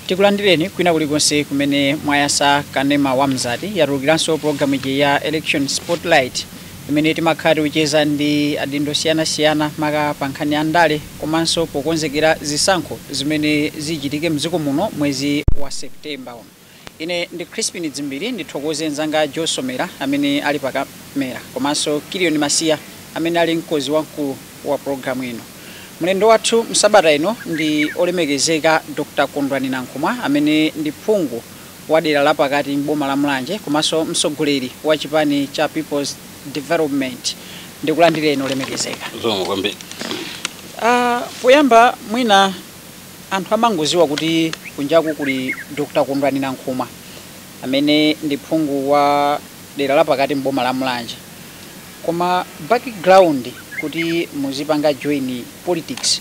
tikulandireni kwina kulikonse kumene mwayasa kanema wa mzati yatulukiranso pologalamu iji ya election spotlight imene timakhala tikucheza ndi adindo osiyanasiyana maka pa nkhani ya ndale komanso pokonzekera zisankho zimene zichitike mdziko muno mwezi wa September uno. Ine ndi Chrispin Dzimbiri ndithokoze mzanga Joe Somera amene ali pa kamera komanso Kilion Masiya amene ali mkonzi wamkulu wa pulogalamu ino. Mlendo wathu msabata ino ndi olemekezeka Dr Kondwani Nankhumwa amene ndi phungu wa dera la pakati m'boma la Mulanje komanso mtsogoleri wa chipani cha People's Development. Ndikulandireni olemekezeka. Zikomo kwambiri. Ah, poyamba mwina anthu amangoziwa kuti kunjaku kuli Dr. Kondwani Nankhumwa amene ndi phungu wa dera la pakati m'boma la Mulanje. Koma background kuti muzipanga join politics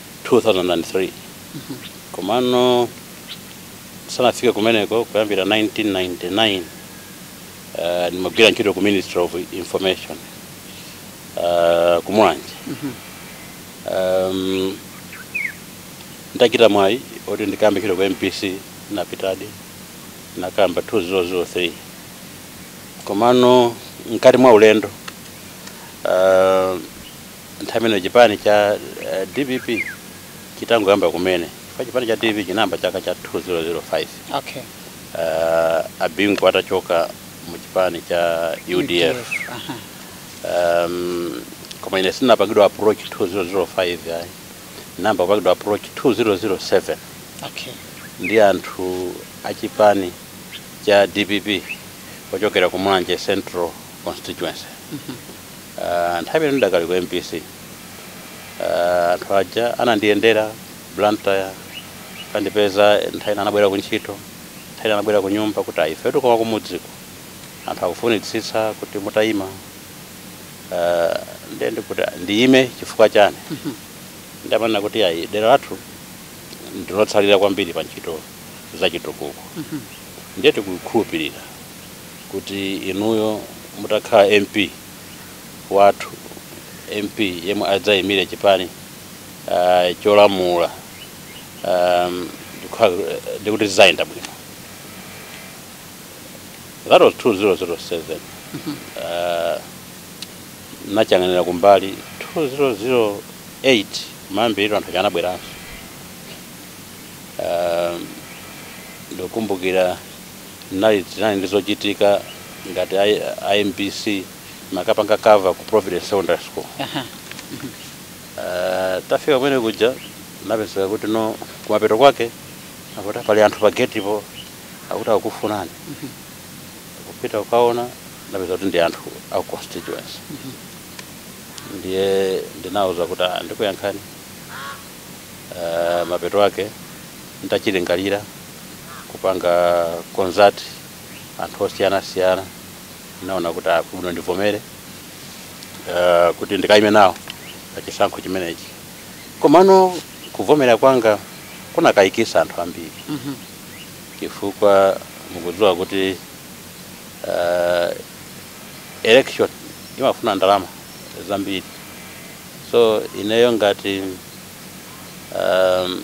2003 komano sanafike kumeneko kuyambira 1999 uh, ndimagwira ntchito ku ministry of information uh, ku mulanje um, ndachita mwayi oti ndikayambe ntchito ku mbc nnapitadi nkukayamba 2003 komano mkati mwa ulendo uh, Nthawi imeneyo chipani cha dpp chitangoyamba kumene, chifukwa chipani cha dpp chinayamba chaka cha 2005 okay. uh, abingu atachoka mu chipani cha udf Aha. um, koma ine sinapangidwa approach 2005 ayi nnayamba kupangidwa approach 2007 Okay. ndi anthu achipani cha dpp ochokera ku mulanje central constituency Aaa nthawi imene ndidakali ku mbc aaa anthu aja anandiyendera ku Blantyre kukandipeza nthawi ina anabwera ku ntchito nthawi ina anabwera ku nyumba kuti ayi ifetu koma kumudziko anthu akufunitsitsa kuti mutayima aaa ndiye ndikuti ayi ndiyime chifukwa chani ndiye amanena kuti ayi dera lathu ndilotsalira kwambiri pa ntchito za chitukuko ndiye tikukhulupirira kuti inuyo mutakhala MP wathu, MP yemwe adzaimire chipani uh, cholamula um, ndikuti zizayenda bwino that was 2007 uh, nayang'anira kumbali 2008 mayambiriro anthu chanabweranso uh, ndikumbukira Tinali tinali ndi zochitika ngati a, a mbc timakapanga cover ku providence secondary school Aha. uh, tafika kumene kuja napezeka kuti no kumapeto kwake akuti pali anthu pa gate po akuti akufunani kupita kukaona napezeka kuti ndi anthu aku constituency ndiye ndinauza kuti "Ah, ndikuyankhani uh, mapeto ake Nditachilingalira kupanga consult anthu osiyana siyana ndinaona kuti ah bwino ndivomere uh, kuti ndikaime nawo pa chisankho chimenechi komano kuvomera kwanga kunakayikisa anthu ambiri mm -hmm. chifukwa mukudziwa kuti uh, election imafuna ndalama zambiri so ineyo ngati um,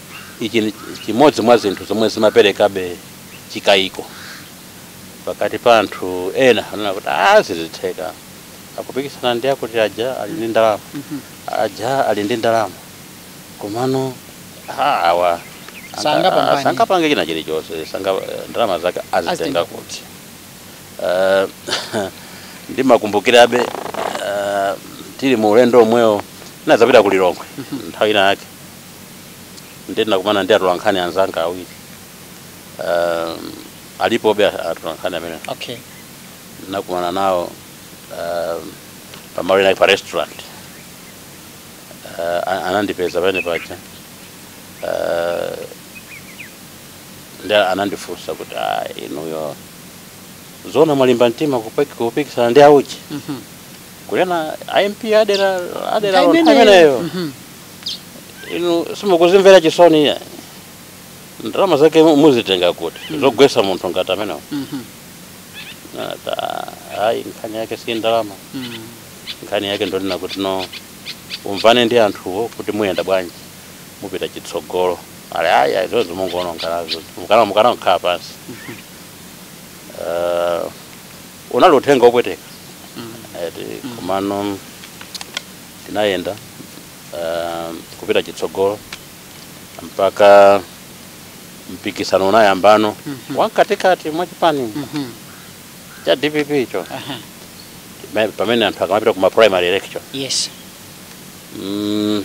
ichi ni chimodzi mwa zinthu zomwe zimaperekabe chikayiko pakati pa anthu ena anena kuti a sizitheka akupikisana ndi akuti aja ali ndi ndalama aja ali ndi ndalama komano ah, awa anga- Sangapambane. ah, sangapange china chilichonse sanga ndalama zake Azitenga azitenga kuti Eh, ndimakumbukirabe eh, tili mu ulendo omwewo nazapita ku lilongwe nthawi ina yake ndinakumana ndi atolankhani anzanga awiri um, alipobe a- atolankhani amene okay ndinakumana nawo um, pa malo ena pa restaurant uh, a- anandipeza penepaja uh, ndi anandifunsa kuti "Ah, inuyo zona mwalimba mtima kupik- kupikisana ndi auchi Mhm. kunena a MP adera adera Nthawi imeneyo. nthawi imeneyo Mhm. inu simukuzimvera chisoni iya ndalama zake mu- muzitenga kuti zogwesa munthu ngati amenewo Mhm. Nati, "Ah, ayi nkhani yake si ndalama Mm. nkhani yake ndonena kuti no umvane ndi anthuwo kuti muyenda bwanji mupita chitsogolo ali ayi ayi izozo mungoononga nazo mukana mukanakhala pansi Eh, unali uthenga wopweteka Mm. ati komano Tinayenda kupita chitsogolo mpaka mpikisano unayambano wamkatikati mwa chipani cha dpp icho Ma- pamene anthu akamapita kuma primary election yes Mm,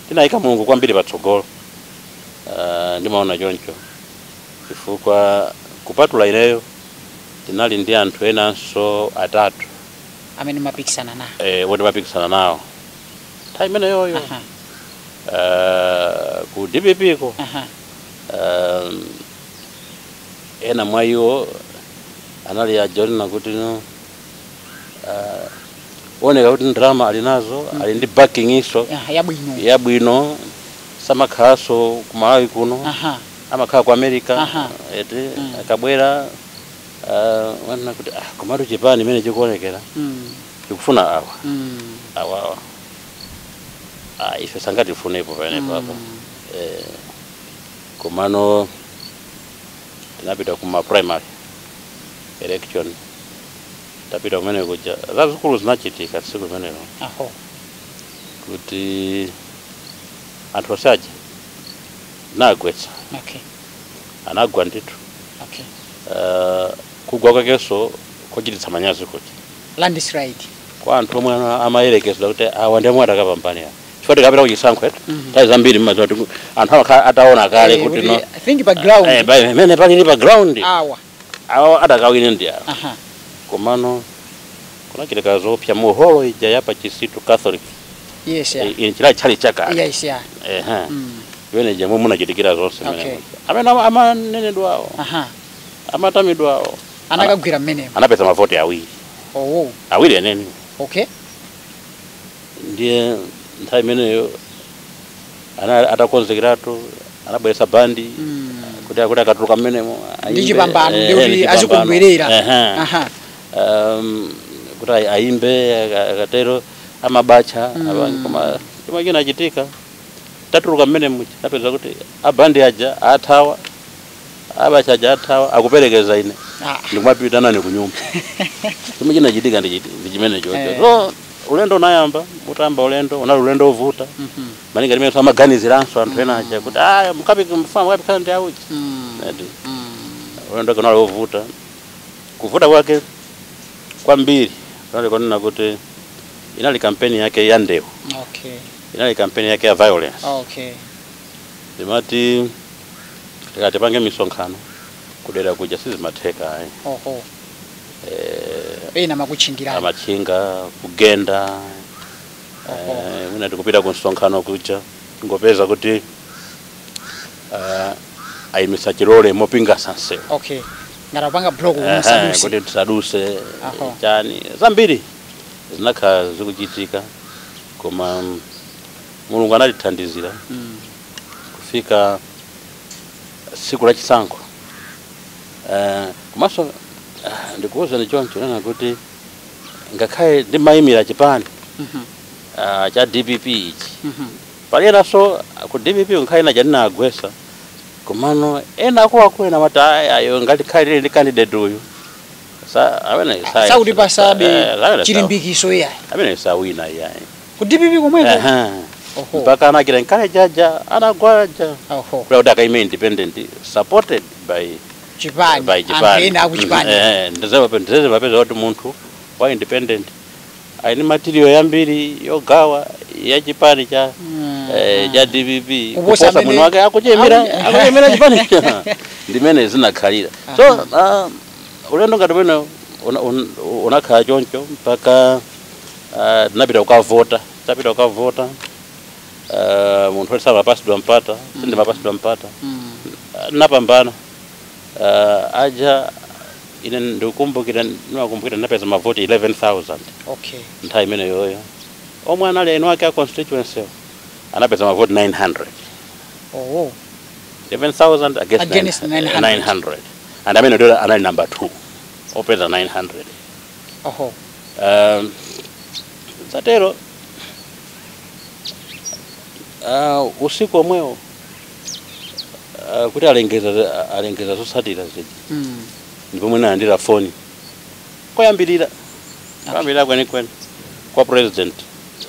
tinayika mulungu kwambiri patsogolo Ah, ndimanena choncho chifukwa kupatula ineyo tinali ndi anthu enanso atatu amene ndimapikisana nawo eh, woti ndimapikisana nawo nthawi imeneyoyo Aha, eh, ku dpp ko aha. eh, ena mwa iwo anali aja onena kuti no eh, oneka kuti ndalama ali nazo ali ndi backing-nso Aha, yabwino yabwino samakhalanso ku malawi kuno aha amakhala ku america Aha. eti Mm. akabwera uh, onena kuti ah, komatu chipani mmene chikuonekera mm. chikufuna awa mm. awawa ah, ife sangatifunepo pamenepo apo mm. eh, komano tinapita kuma primary election tapita kumene kuja zazikulu zinachitika tsiku limenelo kuti anthu onse aja ndinagwetsa okay. anagwa ndithu okay uh, kugwa kwakenso kochititsa manyazi kuti landslide kwa anthu omwe ana- amayerekezera kuti awa ndi omwe atakapambana ya chifukwa tikapita kuchisankho eti nthawi zambiri mmadziwa kuti anthu amakhala ataona kale Eh, kuti kuti no I think pa ground. eh, pa- mmene palili pa ground Awa. awa atakawine ndi awa Aha. komano kunachitika zoopsa mu holo ija ya pa chisitu catholic Yes, yeah. eh, in chila chili chakale Yes, yeah. ehe Mm. yomwe ija momwe munachitikira zonse Okay. mene amene ama- amanenedwawo Aha. amatamidwawo Anakagwira mmenemo. anapeza mavoti awiri Oh, awiri eneni okay. ndiye nthawi imeneyo anali atakonzekeratu anabweretsa bandi kuti akuti akatuluka mmenemo ndi ayimbe, chipambano eh, ndi ndi kuti chipambano. azikondwerera Ehe. Aha. Um, kuti ayi- ayimbe aka- akatero amakabaza abandi koma chomwe chinachitika tatuluka mmenemo tinapeza kuti abandi aja athawa akabaza aja athawa akuperekeza ine Ah. ndikumapita nane kunyumba chomwe chinachitika ndi chiti- ndi chimenechocho Eh. so ulendo unayamba utayamba ulendo unali ulendo wovuta Mhm. malinga ndi mmene anthu amaganiziranso anthu ena aja kuti ayi mukapika mfuna mukapikana ndi auchi Mm. Ati, Mm. ulendo wake unali wovuta kuvuta kwake kwambiri unali konena kuti inali kampeni yake ya ndewu Okay. inali kampeni yake ya violence Okay. zimati tikati tipange misonkhano kudera kuja sizimatheka ayi oho eh, ena makutchingirani kugenda Oho. eh, mwina tikupita ku msonkhano kuja tingopeza kuti eh, ayimisa chilole mopingasa nsewu okay ngati apanga block Ehe, musaduse kuti tisaduse Aha. chani zambiri zinakhala zikuchitika koma mm, mulungu anatithandizira kufika tsiku la chisankho Eh, komanso ah, ndikuwuzani choncho kunena kuti ngakhale ndimayimira chipani ah, cha dpp ichi pali enanso ku dpp mkale uja ndinagwesa komano ena akuluakulu ena amati ayo ngati tikhale ndi candidate uyu Sa- amene sa- sakuti pasabe eh, amene sa- chilimbikiso iyayi amene sawina iyayi ku dpp komweko Ehe. Oho. mpaka anatengera mkale uja anagwa aja Oho. kunena kuti akaime independent supported by chipani by anthu chipani ena akuchipani ndiye umapeza kuti munthu wa independent ali ndi matiriyo yambiri yogawa ya chipani cha eh, cha dpp Kuposa kuposa amene- mwini wake akuchiyimira Awu- akuchiyimira chipani ndimene zinakhalira so ah, ulendo ngati mmene una- un- unakhala choncho mpaka Ah, tinapita kukavota tapita kukavota ah, munthu oti simapasidwa mpata sindimapasidwa mpata Ah, ndapambana Ah, aja ine ndikukumbukira ndimakumbukira ndinapeza mavoti 11000 okay nthawi imeneyoyo omwe anali eni ake a constituency anapeza mavoti 900 oh 11,000 against, Against 900. 900. And amenewo anali number two. Opeza 900. oho Ah, zitatero ah, usiku omwewo ah, kuti alengeza alengeza zotsatira zija Mm. ndipo ndinalandira foni koyambirira koyambirira kwenikweni kwa president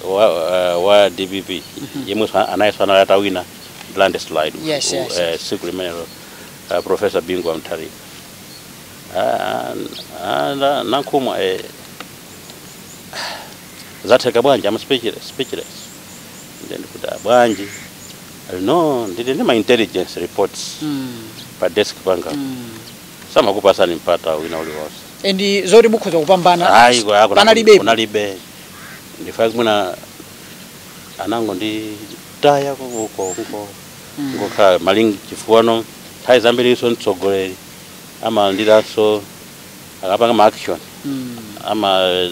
wa, ah, wa dpp yemwe nayenso anali atawina landslide Yes, yes, eh, siku limenelo ah, professor bingu wa mutharika Ah, ah, na- nankhumwa eh. zatheka bwanji am speechless speechless ndiye ndikuti Ah, bwanji Ali, no ndili ndi ma intelligence reports Mm. pa desk panga Mm. samakupasani mpata wina uliwonse and zoti mukhoza kupambana ayi kwa- kuna- panalibepo kunalibe ndi chifukwa mwina anangonditaya uko uko Mm. ngokhala malinga chifukwano nthawi zambirinso mtsogoleri amalandiranso akapanga ma action ama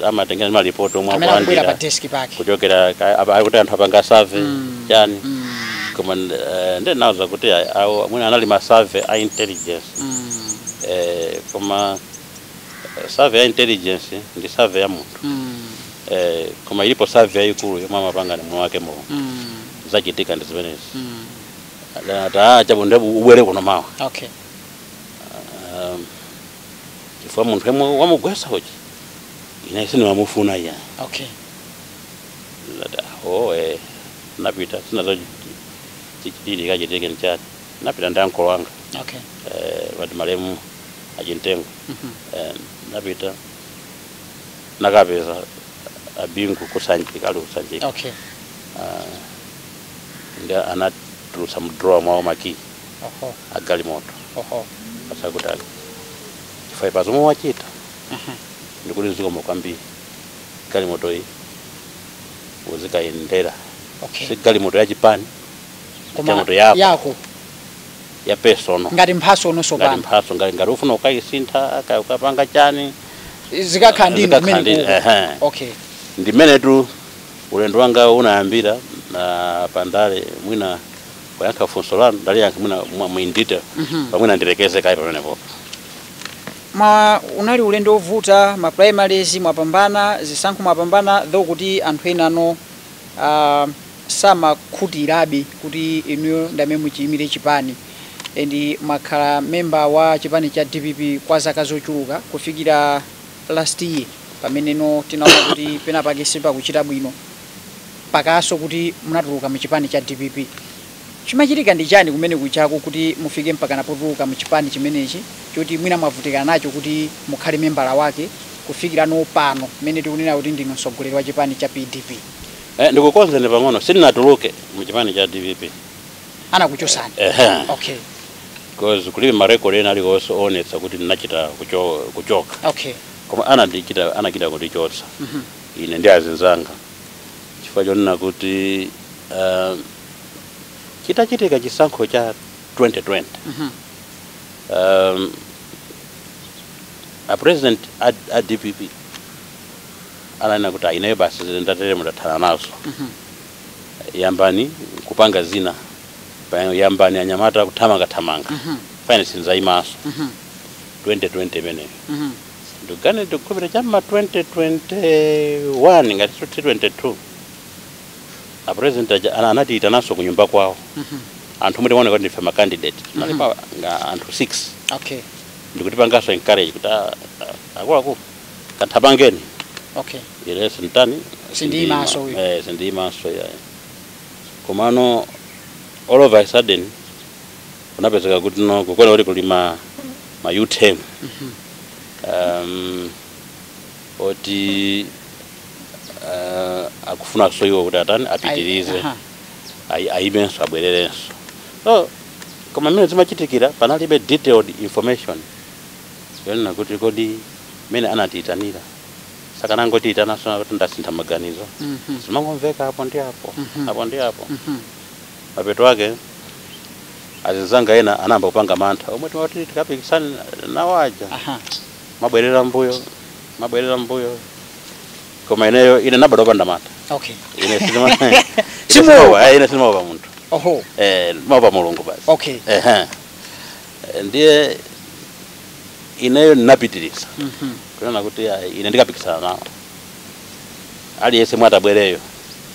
amatengera ma report omwe amene akubwera pa akulandira desk pake kuchokera ka- apa- akuti anthu apanga survey chani koma eh, nde nawauza kuti ayi, awo amene anali ma survey a intelligence eh, koma eh, survey ya intelligence ndi survey ya munthu eh, koma ilipo survey yayikulu yomwe amapanga ni mwini wake mulungu zachitika ndi zimenezi ati ah chabwino nde ubwere kuno mawa okay Ah, chifukwa munthu yemwe wamugwetsa uja ine sindimamufuna iya okay ndati aho eh, napita sinadziwe chiti chikachitike nchani napita ndi ankolo anga okay eh, ati malemu achimtengo Mhm. eh, napita nakapeza abingu kusanjika ali kusanjika okay Ah, nde anatulutsa mudrowa mwawo makiyi oho agalimoto oho nsakutaye chifukwa pa zomwe wachita Mhm. ndikuti zikomo kwambiri galimoto iyi uzikayendera okay si galimoto ya chipani Koma galimoto yako yako ya personal ngati mphaso unonso ngati pano mphaso ngati ngati ufuna ukayisintha ka- ukapanga chani zikakhala ndinu zikakhala kumene ndinu, koko ehe. okay ndimenetu ulendo wanga unayambira na pandale mwina Poyankha funso lanu ndaliyankha mwina mwa- mu in detail koma mwina ndilekeze kaye pamenepo. mwati unali ulendo wovuta ma primaries mwapambana zisankho mwapambana though kuti anthu enano uh, samakhutirabe kuti inuyo ndamene muchiyimire chipani and mwakhala member wa chipani cha dpp kwa zaka zochuluka kufikira last year pameneno tinaona kuti penapake sipakuchita bwino mpakanso kuti munatuluka mu chipani cha dpp chimachitika ndi chani kumene kuchipaniko kuti mufike mpakana potuluka mu chipani chimenechi choti mwina mwavutika nacho kuti mukhale membala wake kufikira no pano mmene tikunena kuti ndinu mtsogoleri wa chipani cha pdp Eh, ndikukonzeni pang'ono sindinatuluke mu chipani cha dpp anakuchosani ehe okay because kulibe marekodi ena aliwonse oonetsa kuti ndinachita kucho- kuchoka okay koma anachita anachita kundichotsa ine ndi azinzanga chifukwa chonena kuti uh, chitachitika chisankho cha 2020 mhm. um, a president a, a dpp ananena kuti ah ineyo basi ndale ndathana nazo mhm. yambani kupanga zina yambani anyamata kuthamanga thamanga mhm. ine sindidzaimaso 2020 imeneyo ndikuganiza ndikukhulupirira cha mma 2021 ngati si 22 apresident aja ana- anatiyitananso ku nyumba kwawo anthu omwe timaoneka kuti ndife makandidate tinalipo ngati anthu 6 okay ndikutipanganso encourage kuti ah, ah, akuluakulu kathamangeni okay yes chani Sindiyimanso uyu. eh sindiyimanso ya komano all of a sudden kunapezeka kuti no kukuoneka kuti kuli ma ma U-turn um, oti uh, akufuna nso iwo kuti atani apitirize Aha. ayi- ayimenso abwererenso so koma mmene zimachitikira panalibe detailed information yonena kuti kodi mmene anatiyitanira sakanangotiyitananso kuti ndasintha maganizo Mhm. zimangomveka apo ndi apo apo ndi apo Mhm. Mapeto ake, azinzanga ena anayamba kupanga mantha omwe timati tikapikisane nawo aja. Aha. Amabwerera mbuyo, amabwerera mbuyo. Koma ineyo ine nabadwa opanda mantha. Okay. Ine sinima ine Chimuopa. sinima ine sindimaopa munthu. Oho. Eh, ndimaopa Mulungu basi. Okay. Ehe. Ndiye ineyo ndinapitiriza. Mhm. Kunena kuti ah, ine ndikapikisana nawo. Aliyense amene atabwereyo.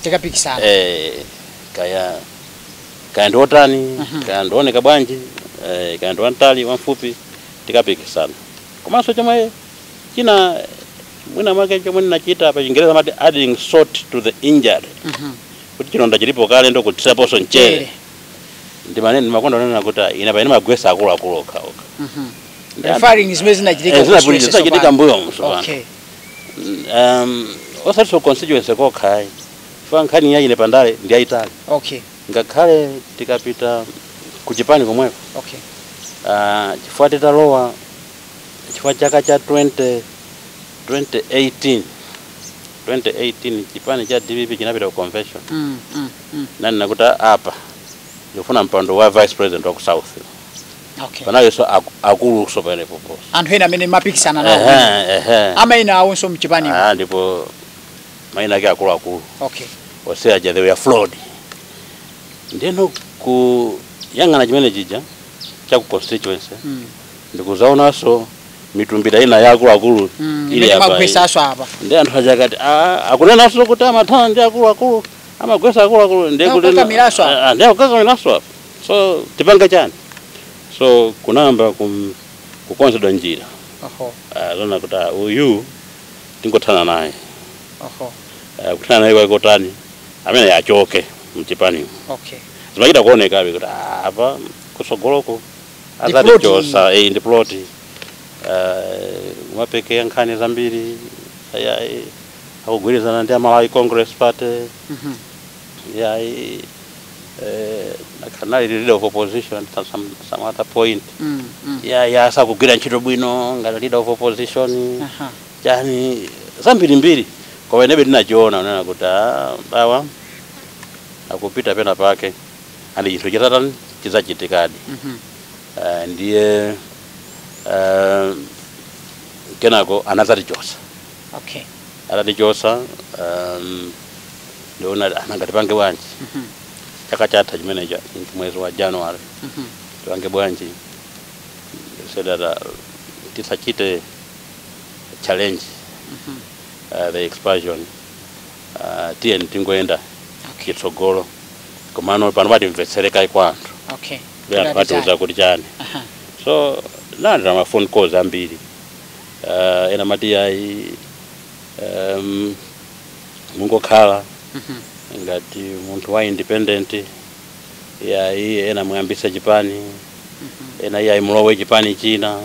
Tikapikisana. Eh, kaya kaya ndi otani kaya ndi ooneka bwanji eh, kaya ndi wamtali wamfupi tikapikisana komanso chomwe china mwina mwake chomwe ndinachita pa chingereza amati adding salt to the injury kuti chilonda chilipo kale ndi kuthiraponso mchere ndimane ndimakonda kunena kuti ah, ine paine ndimagwetsa akuluakulu okhaokha Ndi anthu- referring zimene zinachitika Eh, ku zinachitika- zinachitika tsopano. mbuyomu. Okay. um, osati so constituency kokhayi Chifukwa nkhani ya ine pandale ndi yayitali. Okay. Ngakhale tikapita ku chipani komweko. Okay. Uh, chifukwa titalowa chifukwa chaka cha 20, 2018 2018 chipani cha DPP chinapita ku convention mm, mm, mm. nane ndinati apa ndikufuna mpando wa vice president wa ku south okay. panalinso akuluakulu nso pamenepopo anthu ena amene ndimapikisana nawo ehe ehe a maina awonso mchipani ah ndipo maina ake akuluakulu okay ose aja they were floored ndiyeno kuyang'ana chimene chija cha ku constituency mm. ndikudzaonanso mitumbira ina ya akuluakulu mm. ili m'menemo apa iyi. ndawagwetsanso apa ndiye anthu aja akati "Ah, akunenanso kuti amathana ndi akuluakulu amagwetsa akuluakulu ndiye kuti- Akukakamiranso apa. Ah, ah, ndiye akukakamiranso apa so tipanga chani so kunayamba kum- kukonzedwa njira Oho. Ah, zonena kuti ah, uyu tingothana naye Oho. Eh, kuthana naye kwake kotani ameneyu achoke mchipanimu Okay. zimachita kuonekabe kuti ah, apa kutsogoloko Ndi plot azatichotsa iyi ndi plot anapeka nkhani zambiri ayayi akugwirizana ndi a Malawi Congress Party Mhm. yayi eh, akanali leader of opposition at some, some other point Mm, mm. yayi sakugwira ntchito bwino ngati leader of opposition Aha. chani zambirimbiri koma inebe ndinachiona unena kuti ah, awa akupita pena pake and chinthu cha ntundu chidzachitikadi Mhm. Eh, ndiye eh, kenako anadzatichotsa okay atatichotsa um, ndiye tinaona ah, nanga tipange bwanji chaka chatha chimenecha mwezi wa january tipange bwanji said that tisachite challenge uh, the expulsion uh, tiyeni tingoyenda okay chitsogolo komano pano patimvetsereka kwa anthu okay ndiye anthu atiuza kuti chani Aha. so ndinalandira ma phone calls ambiri Ah, ena mati ayi um, mungokhala ngati munthu wa independent yayi ena muyambitse chipani ena iyayi mulowe chipani china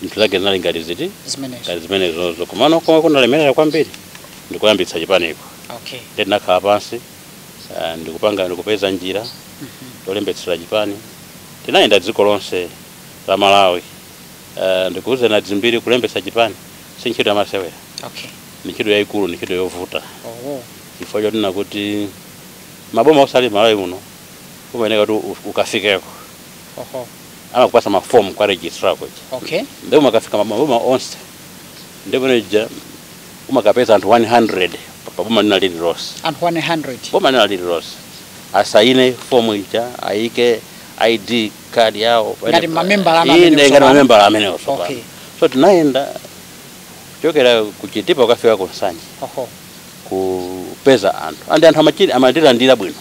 zinthu zake zinali ngati ziti zimenezo ngati zimenezozo komano komwe kunalemerera kwambiri ndikuyambitsa chipaniko okay ndiye tinakhala pansi ah, ndikupanga ndikupeza njira yolembetsera chipani tinayenda dziko lonse la malawi Eh, ndikuwuzeni a Dzimbiri kulembetsa chipani si ntchito yamasewera okay ndi ntchito yayikulu ndi ntchito yovuta oh chifukwa chonena kuti maboma onse ali m'Malawi muno umayeneka kuti u- ukafikeko oh amakupatsa mafomu kwa registrar kuja okay ndiye umakafika ma- maboma onse ndiye pamenepaja umakapeza anthu 100 pa- pa boma lina lililonse anthu 100 boma lina lililonse asayine fomu ija ayike id kadi yawo Ngati mamembala anu amene ine ngati tsopano? mamembala amenewo tsopano Okay. so tinayenda kuchokera ku chitipa kukafika ku nsanje Oho. kupeza anthu and anthu amachiri- amatilandira bwino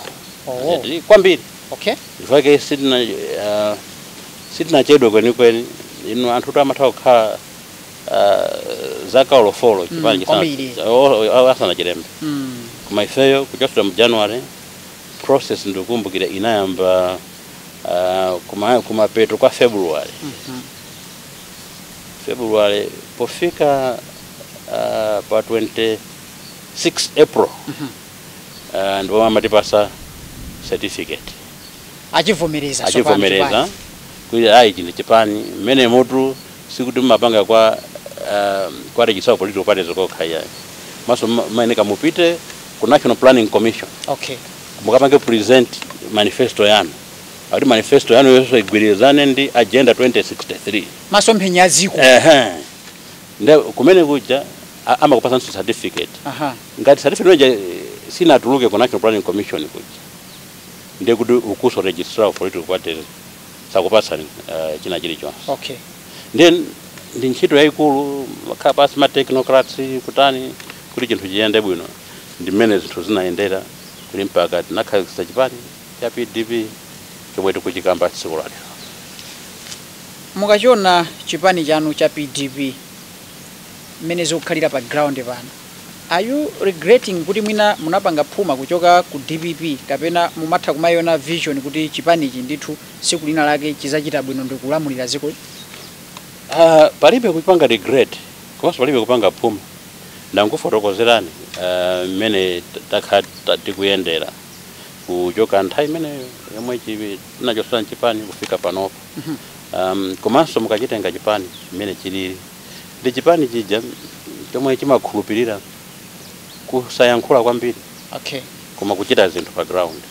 Oh. Ati, kwambiri Okay. n'chifukwa chake sitina ah, sitinachedwe kwenikweni you know anthu ati amatha kukhala ah, zaka olofolo chipani kwambiri. asanachilembe Mm. koma ifeyo kuchotsedwa mu january process ndikukumbukira inayamba uh, inayamba kumapeto kwa February mm -hmm. February pofika uh, pa 26 April mm -hmm. uh, ndipo amatipasa certificate achivomereza achivomereza kuti ayi ichi ndi chipani mmenemotu sikuti mumapanga kwa uh, kwa registrar of political parties kokha iyayi komanso mumayeneka mupite ku national planning commission okay mukapange present manifesto yanu akuti manifesto yanuyonso igwirizane ndi agenda 2063 masomphenya a dziko ehe nde kumene kuja a- amakupatsanso certificate Aha. ngati certificate imeneja sinatuluke ku national planning commission kuja ndiye kuti ukunso registrar of political parties sakupatsani uh, china chilichonse okay ndiye ndi ntchito yayikulu mumakhala pansi ma technocrats kutani kuti chinthu chiyende bwino Ndi mmene zinthu zinayendera kuti mpaka tinakhazikitsa chipani cha PDP chomwe tikuchikamba tsiku la lero. Mukachiona chipani chanu cha PDP mmene zikukhalira pa ground pano, are you regretting kuti mwina munapanga phuma kuchoka ku dpp kapena mumatha kumaiona vision kuti chipanichi ndithu tsiku lina lake chidzachita bwino ndi kulamulira dzikoli? Ah, palibe kupanga regret komanso palibe kupanga phuma Ndangofotokozerani mmene takhala tikuyendera kuchoka nthawi imeneyo yomwe tinachotsedwa mchipani kufika panopa komanso mukachitenga chipani mmene chilili, ndi chipani chija chomwe chimakhulupirira kusayankhula kwambiri koma kuchita zinthu pa ground.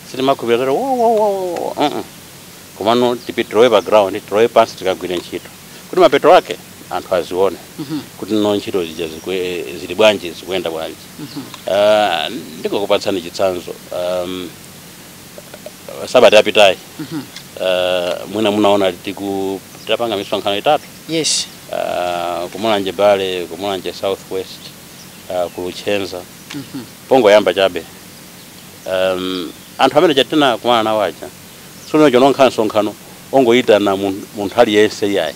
Sitimakhulupirira zoti wowowowo mm komano tilowe pa ground, tilowe pansi tikagwire ntchito. kuti mapeto ake anthu azione kuti no ntchito zija zikwe- zili bwanji zikuyenda bwanji Ah, ndingokupatsani chitsanzo um, sabata yapitayi ah, mwina munaona titapanga misonkhano itatu yes ah, ku Mulanje Bale ku Mulanje Southwest ah, ku Luchenza pongoyamba chabe um, anthu amene tinakumana nawo aja Tsono sunali kukhala msonkhano ongoyitana mun- munthu aliyense iyayi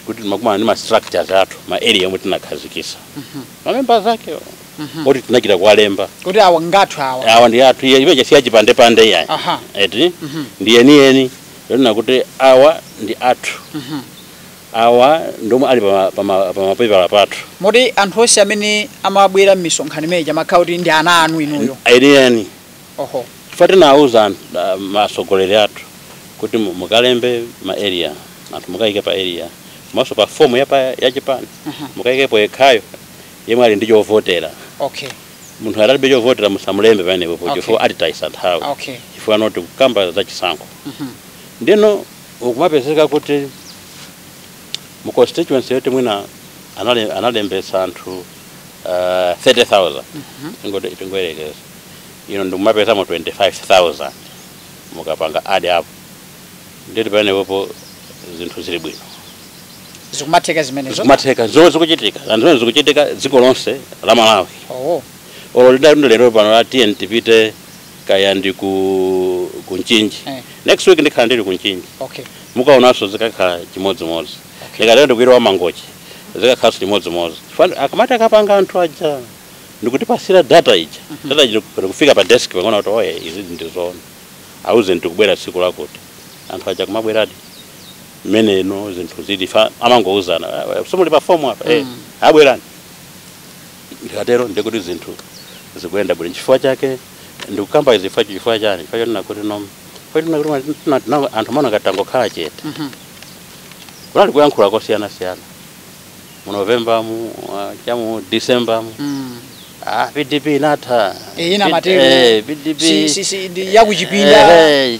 kuti timakumana ndi ma structures athu ma area omwe tinakhazikitsa mamemba zake oti tinachita kuwalemba kuti awa ngathu awa awa ndi athu ee amene aja si achipandepande iyayi aha eti ndi enieni onena kuti awa ndi athu awa ndi omwe ali pama- pama- pamapepala pathu moti anthu onse amene amabwera m'misonkhano imeneyi amakhala kuti ndi ana anu inuyo enieni Oho. Chifukwa tinawuza anthu da, ma atsogoleri athu kuti mu- mukalembe ma area, anthu mukayike pa area, komanso pa fomu ya pa, ya chipani, mukayikepo yekhayo yemwe ali ndi chovotera. Okay. Munthu ngati alibe chovotera musamulembe pamenepo po Okay. chifukwa atitayitsa nthawi. Okay. Chifukwa ino tikukamba za chisankho. Ndeno kukumapezeka kuti mu constituency yoti mwina anale, analembetsa anthu uh, 30,000. Tingoti tingoyerekeza. inu ndikumapezamo 25000 mukapanga add up ndekuti pamenepopo zinthu zili bwino zikumatheka zimenezo zikumatheka zomwe zikuchitika zinthu zimene zikuchitika dziko lonse la malawi oh. olo lidali ndi lero pano la tiyeni tipite kaya ndi ku ku Mchinji Eh. next week ndikhala ndili ku Mchinji okay mukaonanso zikakhala chimodzimodzi likatero ndikulowera wa mangochi zikakhalanso chimodzimodzi Fa- akamati akapanga anthu aja ndikutipatsira data ija data ija ndikufika pa desk pangona kuti oye izi ndizoona auze ndikubwera tsiku lakuti anthu aja kumabweradi mmene ino zinthu zili fa amangouzana "Ah, eh, simuli pa fomu apa eh bwerani ndikatero ndekuti zinthu zikuyenda bwino chifukwa chake ndikukamba izi chifukwa chifukwa chani chifukwa choti nakuti no chifukwa choti nakuti tina- tina- anthu mmene titangokhala chete kunali kuyankhula kosiyanasiyana mu november mu ah, cha mu december mu Mm. ah, pdp inatha Eh, ena P- matero. eh, pdp Si- si- si- ndi yakuchipinda. Eh, eh,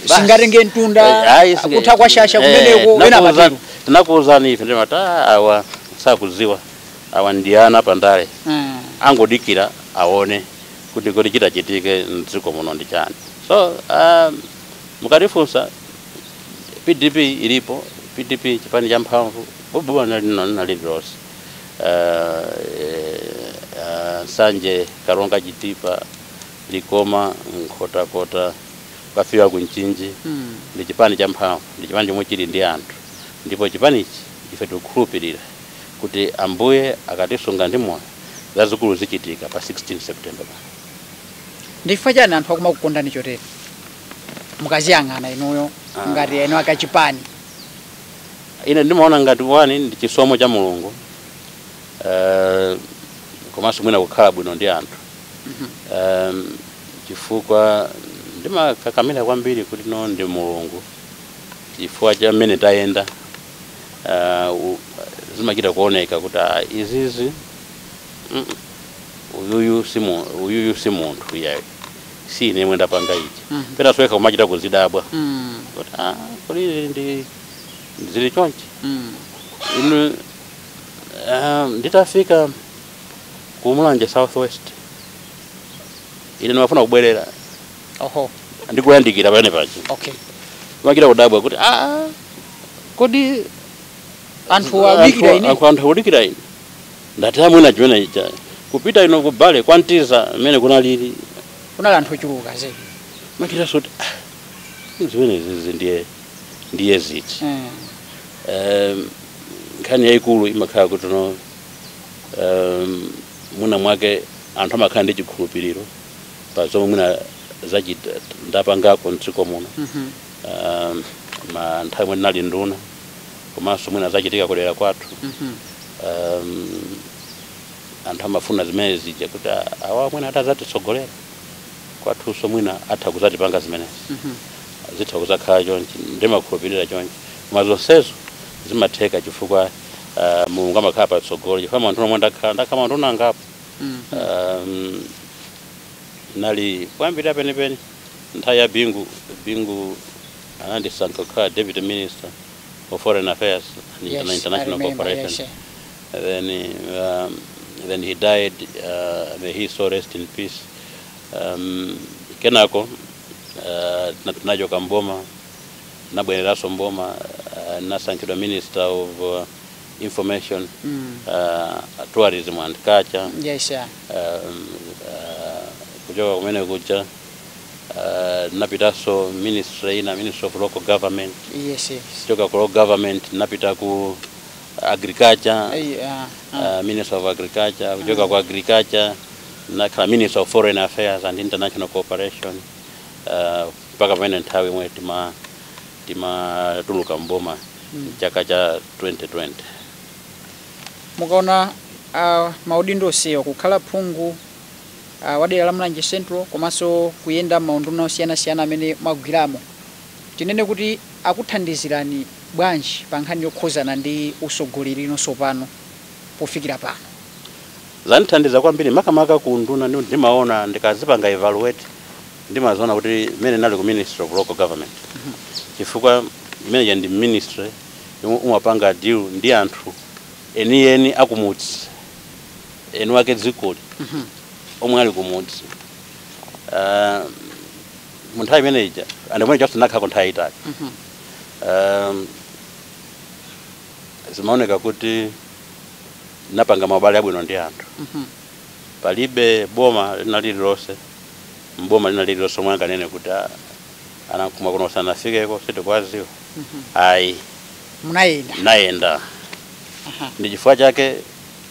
basi. Singatenge mtunda, Eh, ayi, singe- kutha kwa shasha eh, kumeneko, ena tinakuuza- matero. tinakuuzani ife ndimati "Ah, awa sakudziwa awa ndi ana pandale Mm. angodikira aone kuti kodi chitachitike mdziko muno ndi chani so um, mukatifunsa PDP ilipo, PDP chipani cha mphamvu, bobo monse muli lonse uh, uh, Nsanje, Karonga, Chitipa, Likoma, Nkhotakota, Pafiwa, ku Mchinji mm. ndi chipani cha mphamvu, ndi chipani chomwe chili ndi anthu, ndipo chipani ichi ife tikukhulupirira kuti Ambuye akatisunga ndi moyo zazikulu zichitika pa 16 September. Ndi chifukwa chani anthu akumakukondani chotere mukachiyang'ana inuyo Ah. ngati eni ake chipani ine ndimaona ngati one ndi chisomo cha mulungu Eh, komanso mwina kukhala bwino ndi anthu Eh, chifukwa ndimakakamira kwambiri kuti no ndi mulungu chifukwa cha mmene tayenda Eh, u- zimachita kuoneka kuti ah, izizi mm, uyuyu si mu- uyuyu si munthu iyayi si ine amene ndapanga ichi pena wekha umachita kuzidabwa kuti ah, kodi izi ndi zili chonchi inu ah, nditafika ku mulanje southwest ine ndimafuna kubwerera oho ndikuyandikira pamene pachi okay umachita kudabwa kuti ah, kodi anthu akudikira ine anthu akudikira ine Ndati a mwina chimene chija kupita ino ku Bale kwa Ntiza mmene kunalili Kunali anthu ochuluka zedi. Ndimachitanso kuti "Ah, zimenezizi ndiye ndiye ziti Mm. Em, nkhani yayikulu imakhala kuti no em, mwina mwake anthu amakhala ndi chikhulupiriro pa zomwe mwina zachita ndapangako mdziko muno Mhm. um, mu nthawi imene ndinali nduna komanso mwina zachitika kudera kwathu um, anthu amafuna zimene zija kuti a- awa mwina atazatitsogolera kwathunso mwina atha kuzatipanga zimenezi zitha kuzakhala chonchi ndimakhulupirira chonchi koma zonsezo zimatheka chifukwa ah, mulungu amakhala patsogolo chifukwa maunduna omwe ndakhala ndakhala maunduna angapo um, nali kuyambira penipeni nthawi ya bingu bingu Anandisankha kukhala Deputy Minister for Foreign Affairs and Yes, I International remember, Cooperation. yes, sir. Then, um, then he died. Uh, may he so rest in peace. Um, kenako uh, tina- tinachoka mboma nabwereranso mboma uh, nasankhidwa minister of uh, information Mm. uh, tourism and culture Yes, sir. um, uh, kuchoka kumene kuja uh, napitanso ministry ina ministry of local government yes yes kuchoka ku local government napita ku agriculture Ai, ah, ah. uh, minister of agriculture kuchoka ku agriculture nakhala minister of foreign affairs and international cooperation uh, mpaka pamene nthawi imene tima timatuluka mboma chaka cha 2020 mukaona ah, maudindo onsewa kukhala phungu uh, wa dera la Mulanje Central komanso kuyenda m'maunduna osiyanasiyana amene mwagwiramo, tinene kuti akuthandizirani bwanji pa nkhani yokhuzana ndi utsogoleri inuyo tsopano pofikira pano? Zandithandiza kwambiri makamaka ku unduna ndimaona ndikazipanga evaluate ndimaziona kuti mene nali ku Ministry of Local Government mhm. chifukwa imeneja ndi ministry yomwe umapanga deal ndi anthu enieni akumudzi eni wake dzikoli omwe ali kumudzi Ah, mu nthawi imene ija and imene ijaso nakhalako nthawi yayitali Um, zimaoneka kuti napanga maubale abwino ndi anthu palibe boma lina lililonse mboma lina lililonse omwe anganene kuti ah, a Nankhumwa kuno sanafikeko sitikuwadziwa ayi munayenda nayenda Aha. ndi chifukwa chake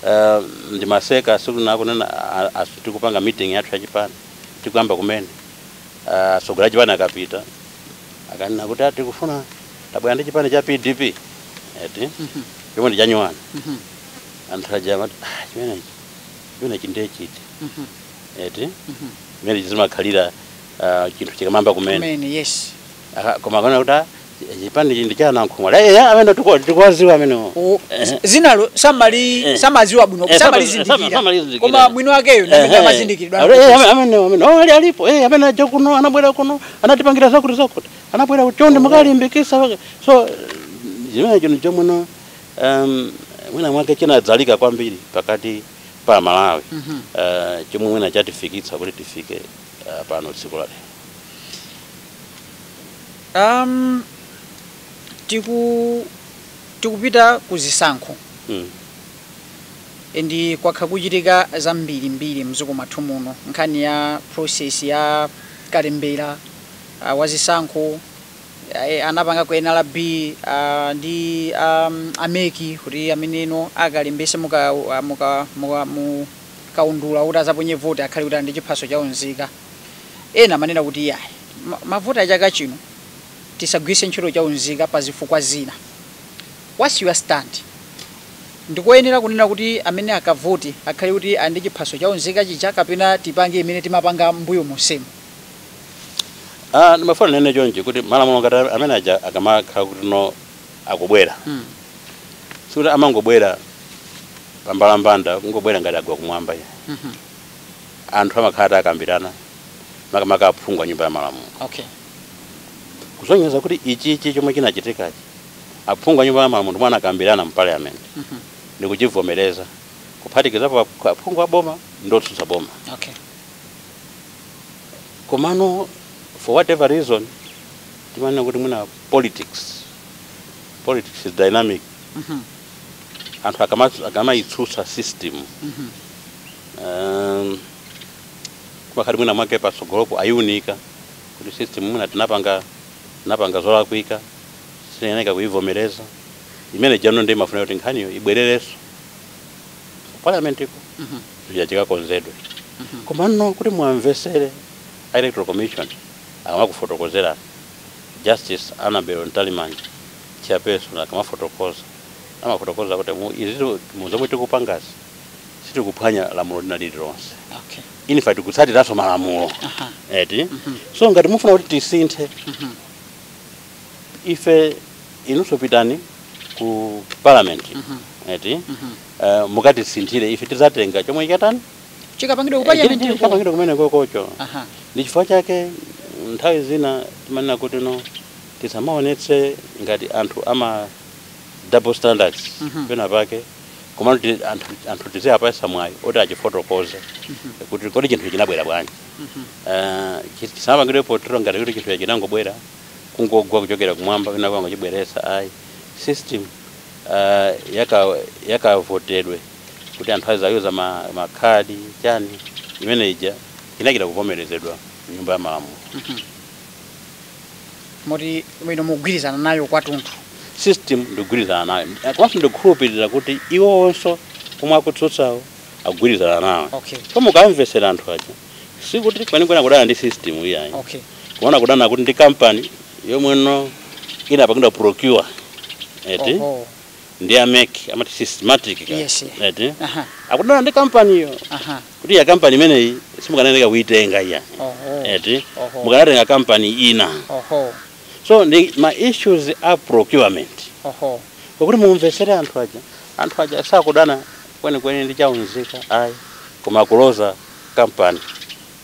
Uh, ndimaseka tsiku lina akunena a- a- tikupanga meeting yathu ya chipani tikuyamba kumene uh, atsogoleri a chipani akapita akanena kuti ah tikufuna tabwera ndi chipani cha pdp eti chomwe ndi chanyuwani anthu aja amati "Ah, chimenechi chimenechi ndiye chiti eti mmene zimakhalira uh, chinthu chikamayamba kumene Amen, yes. Aha, koma akanena kuti ah, chipanichi ndi cha nankhumwa la eya amene tikuwa- tikuwaziwa amenewo O- z- dzinalo samali Eh. samaziwa bwino Eh, samali- samalizindikira samalizindikira. koma mwini wakeyo ndi amene amazindikiridwa amenewo amene oh, ali alipo eh, amene aja kuno anabwera kuno anatipangira zakuti zakuti anabwera uchonde mukalimbikisa wake. so zimene chinthu chomwe um, mwina mwake chinadzalika kwambiri pakati pa amalawi uh, chomwe mwina chatifikitsa kuti tifike uh, pano tsiku la um, tiku tikupita ku zisankho mm. and kwakhala kukuchitika zambiri mbiri mdziko mwathu muno nkhani ya process ya kalembera uh, wa zisankho eh, anapanga ku nrb uh, ndi um, a mec kuti amene no akalembese muka, uh, muka, muka, mu, kaundula kuti azaponye voti akhale kuti ali ndi chiphaso cha unzika ena amanena kuti iyayi ma- mavoti a chaka chino tisagwiritse ntchito cha unzika pa zifukwa zina what's your stand ndikoyenera kunena kuti amene akavote akhale kuti ali ndi chiphaso cha unzika chija kapena tipange mmene timapanga mbuyo monsemo Ah, ndimafuna ninene chonchi kuti malamulo ngati amene aja akamakhala kuti no akubwera sikuti amangobwera pambalambanda kungobwera ngati agwa kumwamba iyayi anthu amakhala atakambirana makamaka aphungu a nyumba ya malamulo okay kusonyeza kuti ichichi chomwe chinachitikachi aphungu a nyumba ya malamulo omwe anakambirana mu parliament ndi kuchivomereza kuphatikizapo aph- aphungu a boma ndi otsutsa boma okay komano for whatever reason timanena kuti mwina politics politics is dynamic anthu akama- akamayitsutsa system um, kumakhala kuti mwina mwake patsogolopo ayiunika kuti system mwina tinapanga tinapanga zolakwika sitinayeneka kuyivomereza imene ija no ndiye amafuna kuti nkhaniyo ibwererenso parliamentiko zija chikakonzedwe komano kuti muwamvesere a electoral commission akamakufotokozerani. Justice Annabel Mtalimanja, Chairperson, akamafotokoza, amafotokoza kuti mu izitu mu zomwe tikupangazi sitikuphwanya lamulo lina lililonse. Okay. In fact tikutsatiranso malamulo. Aha. Eti? Mhm. So ngati mufuna kuti tisinthe Mhm. ife inunso pitani ku parliament. Mhm. Eti? Mhm. Uh, mukatisinthire ife tizatenga chomwe chikatani chikapangidwe ku parliament chili ko chikapangidwe kumene kokocho aha ndi chifukwa chake nthawi zina timanena kuti no tisamaonetse ngati anthu ama double standards Mhm. pena pake komano ti- anthu, anthu tiziapasa mwayi oti achifotokoze kuti kodi chinthu chinabwera bwanji Mhm. Eh, chi- chisamapangidwe potero ngati kuti chinthu chinangobwera kungogwa kuchokera kumwamba wina wangochibweretsa ayi system eh, yaka- yakavotedwe kuti anthu azayuza ma, ma card chani imene ija inachita kuvomerezedwa m'nyumba ya malamulo moti inu mugwirizana nayo kwathunthu system ndikugwirizana nayo komanso ndikukhulupirira kuti iwowonso omwe akutsutsawo akugwirizana nawo okay so mukamvetsera anthu aja sikuti kwenikweni akudana ndi system iyayi okay koma akudana kuti ndi kampani yomwe no inapangidwa procure eti Oho. ndi a mec amati Smartmatic ka Yes. right eh? Aha. akudana ndi kampaniyo Aha. kuti ya kampani imeneyi simukanayenera kuitenga iya Oho. eti Oho. mukanatenga kampani ina Oho. so ndi ma issues a procurement Oho. mukati mumvetsere anthu aja anthu aja sakudana kwenikweni ndi chaunzika ayi koma kuloza kampani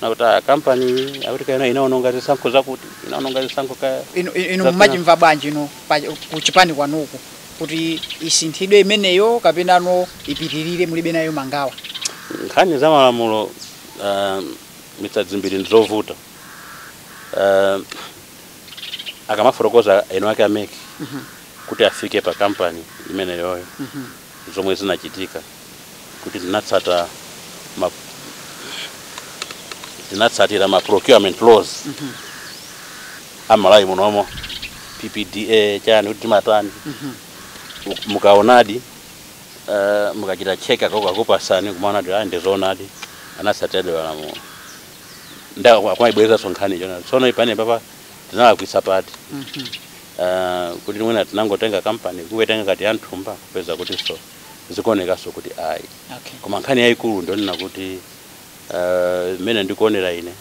nakuti a kampani iyi akuti kaya inaononga zisankho zakuti inaononga zisankho ka inu, inu Kapena- mumachimva bwanji inu pa- ku chipani kwanuku kuti isinthidwe imeneyo kapena no ipitirire mulibe nayo mangawa nkhani za malamulo uh, Mr Dzimbiri ndizovuta uh, akamafotokoza eni ake a mec kuti afike pa kampani imeneyoyo zomwe zinachitika kuti tinatsata ma, tinatsatira ma procurement laws mm -hmm. amalawi munomo ppda chani kuti timatani mm -hmm. mukaonadi uh, mukachita check akakupasani kumaona kuti a ndi zoonadi anatsatiradi lamulo nde akumaibwerezaso nkhani chona tsono pamenepapa tinalakwisa pati mm -hmm. Uh, kuti mwina tinangotenga kampani kuitenga ngati ya mthumba kupezeka kutinso zikuonekanso kuti ayi Okay. koma nkhani yayikulu ndionena kuti uh, mmene ndikuonera ine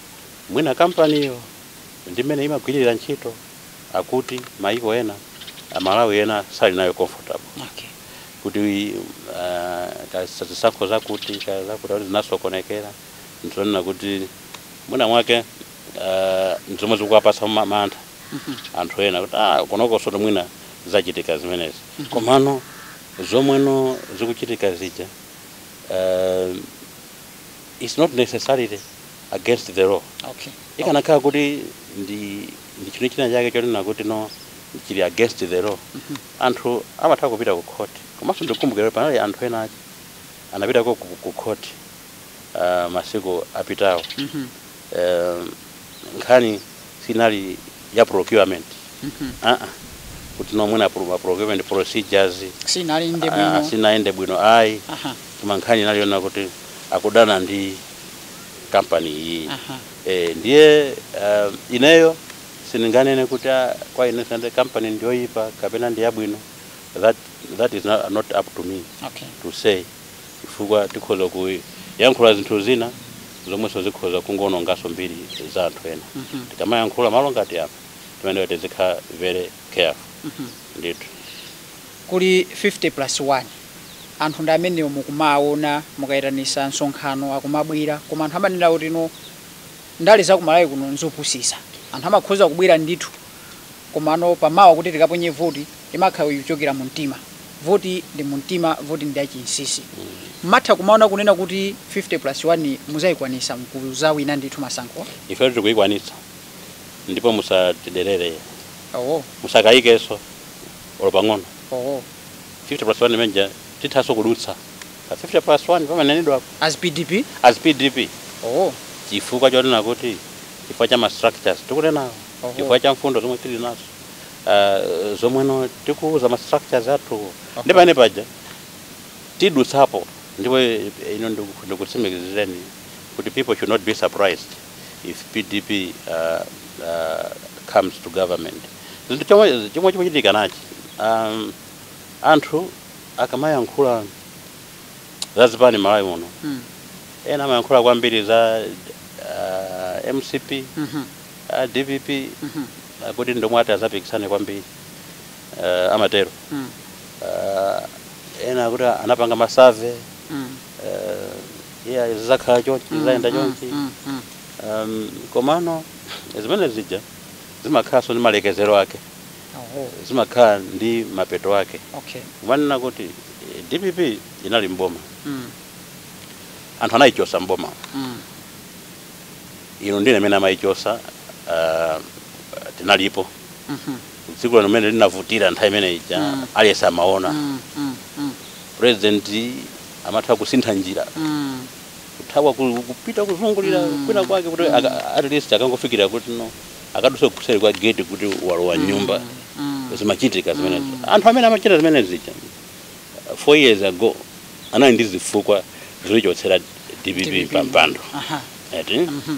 mwina kampaniyo ndi mmene imagwirira ntchito akuti mayiko ena amalawi ena sali nayo comfortable Okay. kuti uh, kasa- zisankho zakuti kaya zakuti kuti zinasokonekera ndi zonena kuti mwina mwake uh, ndi zomwe zikuwapatsa ma- mantha anthu ena kuti ah, konkunonso mwina zachitika zimenezi komano zomweno zikuchitika zija uh, it's not necessarily against the law okay ikanakhala kuti ndi ndi chinthu china chake chonena kuti no chili against the law anthu amatha kupita ku court komanso ndikumbukira kuti panali anthu ena ake anapitako ku, ku court uh, masiku apitawo Mhm. um, nkhani sinali ya procurement ah ah kuti no mwina pro- ma procurement procedures sinali inde ah, bwino sinayende bwino ayi aha koma nkhani inali yonena kuti akudana ndi kampani iyi aha eh, ndiye um, ineyo sindinganene kuti ah, kwa ine sande kampani ndiyoyipa kapena ndi yabwino that, that is not, not up to me okay to say chifukwa tikhoza kuyankhula zinthu zina zomwenso zikhoza kungoononganso mbiri za anthu ena tikamayankhula malo ngati ano timayenera tizikhala very careful ndithu kuli 50 plus 1 anthu ndi amenewo mukumaona mukayitanisa msonkhano akumabwera koma anthu amanena kuti no ndale za ku malawi kuno nzopusitsa anthu amakhoza kubwera ndithu komano pamawa kuti tikaponye voti imakhala ikuchokera mu mtima voti ndi mu mtima voti ndi yachinsisi mmatha kumaona kunena kuti 50 plus 1 mudzayikwanitsa nkudzawina ndithu masankho ife tikayikwanitsa ndipo musatiderere owo musakayikenso olo pang'ono owo 50 plus 1 imeneja tithanso kudutsa pa 50 plus 1 pamanenedwa as pdp as pdp owo chifukwa chonena kuti chifukwa cha ma structures tikunenawo chifukwa cha mfundo zomwe tili nazo ah, zomweno tikuuza ma structures athu ndi pamene paja tidutsapo ndipo ine ndiku- ndikutsimikizireni kuti people should not be surprised if pdp uh, uh, comes to government chinthu chomwe chomwe chikuchitika nachi um, anthu akamayankhula za zipani malawi muno Mm. ena amayankhula kwambiri za uh, mcp Mhm. A dpp akuti ndomwe ati azapikisane kwambiri uh, amatero Mm. uh, ena akuti anapanga masave Mm. uh, yeah, zizakhala chonchi zizayenda chonchi Mm. Mm. um, komano zimene zija zimakhalanso ndi malekezero ake Oh, zimakhala ndi mapeto ake okay. kumanena kuti eh, dpp inali mboma Mm. anthu anayichosa mboma Mm. inu ndi amene amayichosa ah, tinalipo dziko lino mmene linavutira nthawi imene ija Mm. aliyense amaona Mm, mm, mm, president amatha kusintha njira mm. kuthawa ku- kupita kuzungulira Mm. kwina kwake kuti aka- at least akangofikira kuti no akaduse kuseri kwa gate kuti walowa mnyumba Mm. zimachitika zimenezo Mm. anthu amene amachita zimenezi zija four years ago anali ndi zifukwa zochotsera dpp DPP. pampando Aha. eti Mhm.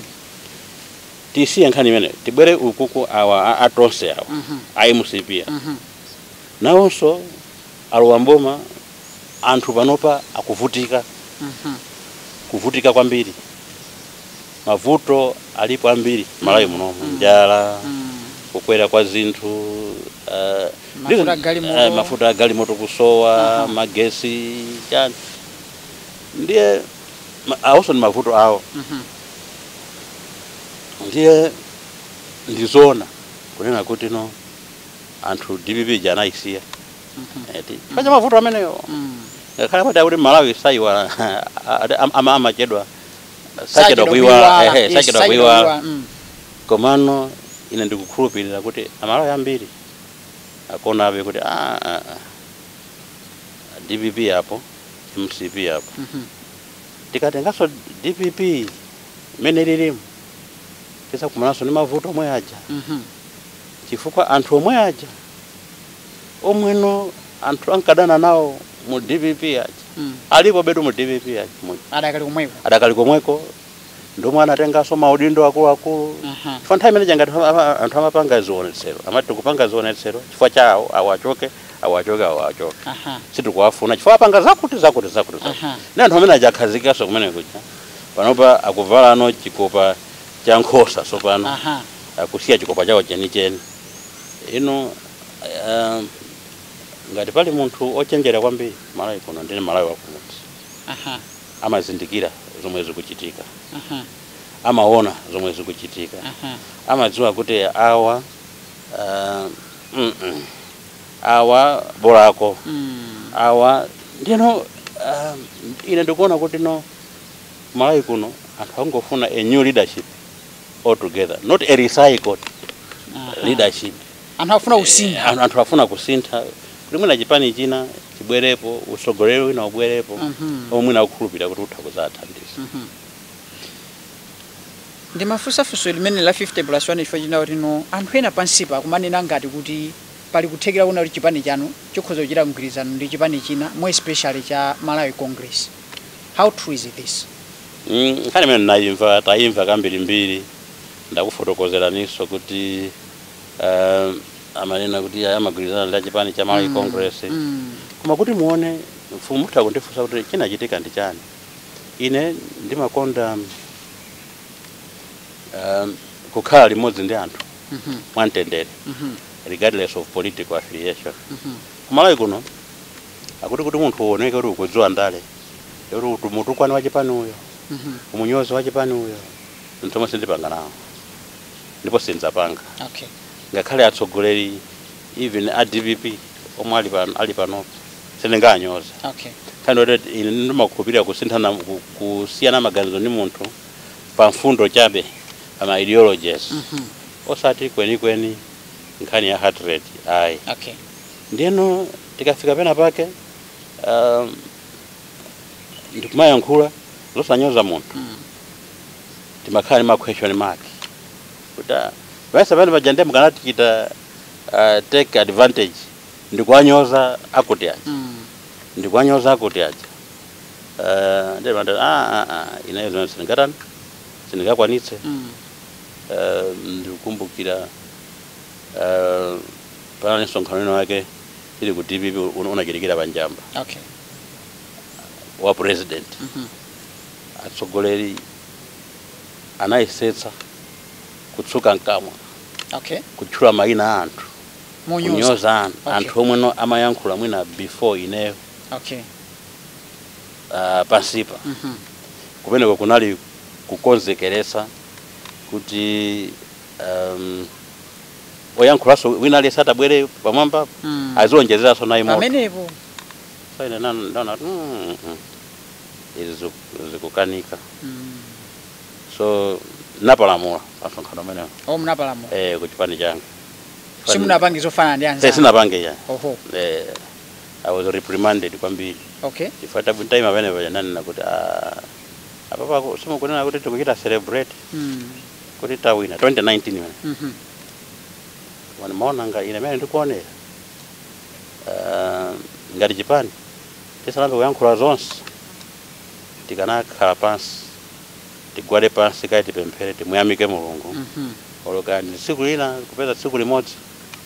tisiye nkhani imeneyo tibwere ukuku awa a- atonse awa Mhm. a mcp awa. Mhm. nawonso alowa mboma anthu panopa akuvutika Mhm. kuvutika kwambiri mavuto alipo ambiri malawi munomo Mm. njala Mm. kukwera kwa zinthu uh, Mafuta a galimoto. mafuta a galimoto kusowa Aha. magesi chani ndiye ma- awonso ndi mavuto awo ndiye sindikuona kunena kuti no anthu dpp ija anayisiya eti paja mavuto amenewo ngakhale amati akuti mmalawi sayiwa ati am- ama- amachedwa sachedwa kuyiwala ehe, sachedwa kuyiwala komano ine ndikukhulupirira kuti amalawi ambiri akuonabe kuti ah, ah, ah, dpp apo mcp apo tikatenganso dpp mmene ililimu tizakumananso ndi mavuto omwe aja chifukwa anthu omwe aja omweno anthu ankadana nawo mu dpp aja alipobetu mu dpp aja adakali kumweko adakali komweko ndomwe anatenganso maudindo akuluakulu Aha. chifukwa nthawi imene changati anthu ama- anthu amapanga zionetsero amati tikupanga zionetsero chifukwa cha awo awo achoke awo achoke awo achoke Aha. sitikuwafuna chifukwa apanga zakuti zakuti zakuti zakuti Aha. ndi anthu amene aja akhazikikaso kumene kuja panopa akuvalano chikopa cha nkhosa sopano Aha. akusiya chikopa chawo chenicheni inu um, ngati pali munthu ochenjera kwambiri malawi kuno ndi mmalawi wakumudzi Aha. amazindikira zomwe zikuchitika Aha. amaona zomwe zikuchitika Aha. amadziwa kuti awa uh, mm -mm. awa bolako Mm. awa ndino um, ine ndikuona kuti no malawi kuno anthu akungofuna a new leadership altogether not a recycled Aha. leadership anthu afuna kusintha anthu anthu afuna kusintha kuti mwina chipani china chibwerepo utsogoleri wina ubwerepo Mhm. omwe mwina akukhulupirira kuti utha kudzathandiza ndimafunsa funso limene la 50 plus 1 chifukwa chonena kuti no anthu ena pansipa akumanena ngati kuti pali kuthekera kunena kuti chipani chanu chikhoza kuchita mgwirizano ndi chipani china more especially cha malawi congress how true is this Mm, nkhani imene ndinayimva tayimva kambirimbiri ndakufotokozeraninso kuti eh, amanena kuti aya amagwirizana ndi achipani cha Malawi Congress koma kuti muone mfumu mutha kundifunsa kuti chinachitika ndi chani ine ndimakonda um, kukhala limodzi ndi anthu mwamtendere regardless of political affiliation kumalawi kuno akuti kuti munthu uoneke kuti ukudziwa ndale umutukwane wachipani uyo umunyoze wachipani uyo zinthu zomwe sindipanga nawo ndipo sindzapanga okay. ngakhale atsogoleri even a dpp omwe ali pano ali pano sindingawanyoze okay. nkhani yoti ine ndimakhulupirira kusinthana ku- kusiyana maganizo ndi munthu pa mfundo chabe pa ma ideologies osati kwenikweni nkhani ya hatred ayi okay. ndiyeno tikafika pena pake um, ndikumayankhula zosanyoza munthu timakhala ndi ma question mark kuti ah, vice pamene paja ndiye mukanatichita ah, take advantage ndikuwanyoza akuti aja Mm. ndikuwanyoza akuti aja Ah, ndiye pamene ah, ah, ah, ineyo zimene sindingatani sindingakwanitse Mm. Eh, ndikukumbukira eh, panali msonkhano ine ndikadali ku dpp un- unachitikira panjamba Okay. wa president Mhm. Atsogoleri anayesetsa kutsuka mkamwa, Okay. kutchula mayina a anthu, Kunyoza. kunyoza anthu, Okay. anthu omwe no amayankhula mwina before ineyo Okay. ah, pansipa. Mhm. Kumeneko kunali kukonzekeretsa kuti um, oyankhulanso wina aliyense azabwere pamwambapo Mm. azionjezeranso nawo moto. Pamenepo. So ine na- ndaona kuti, mm, mm. izi ziku- zikukanika so ndinapalamula pa msonkhano umenewo o munapalamo eh, ku chipani changa simunapange zofanana ndi Eh, anzanu sinapange ya oho eh, i was reprimanded kwambiri okay chifukwa that time imene ija ndinanena kuti ah, apa pako simukunena kuti tikuchita celebrate Mm, kuti tawina 2019 imene mhm. sanaone ngati ine mene ndikuonera Ah, ngati chipani Tisanayambe kuyankhula zonse tikanakhala pansi tigwade pansi kaya tipemphere timuyamike Mulungu olo kaya ndi tsiku lina kupeza tsiku limodzi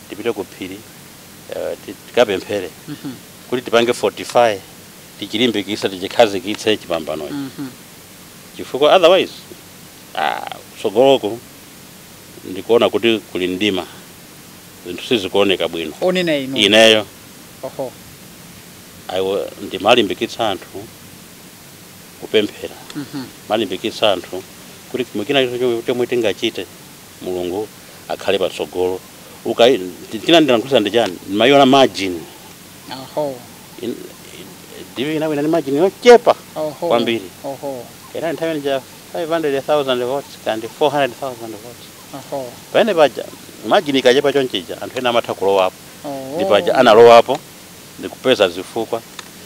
tipite ku phiri eh, ti- tikapemphere kuti tipange fortify tichilimbikitse tichikhazikitse chipambanochi chifukwa otherwise ah, kutsogoloko ndikuona kuti kuli mdima zinthu sizikuoneka bwino onena inu ineyo Ayi, ndimalimbikitsa anthu kupemphera, ndimalimbikitsa anthu kuti china chilichonse chomwe tingachite Mulungu akhale patsogolo. China chinandilankhulitsa ndi chani? Ndimaiona margin, DPP inawina ndi margin yochepa kwambiri, kaya inali nthawi ija 500,000 votes kaya ndi 400,000 votes, pamene paja margin ikachepa chonchija anthu ena amatha kulowapo. ndi paja analowapo ndikupeza zifukwa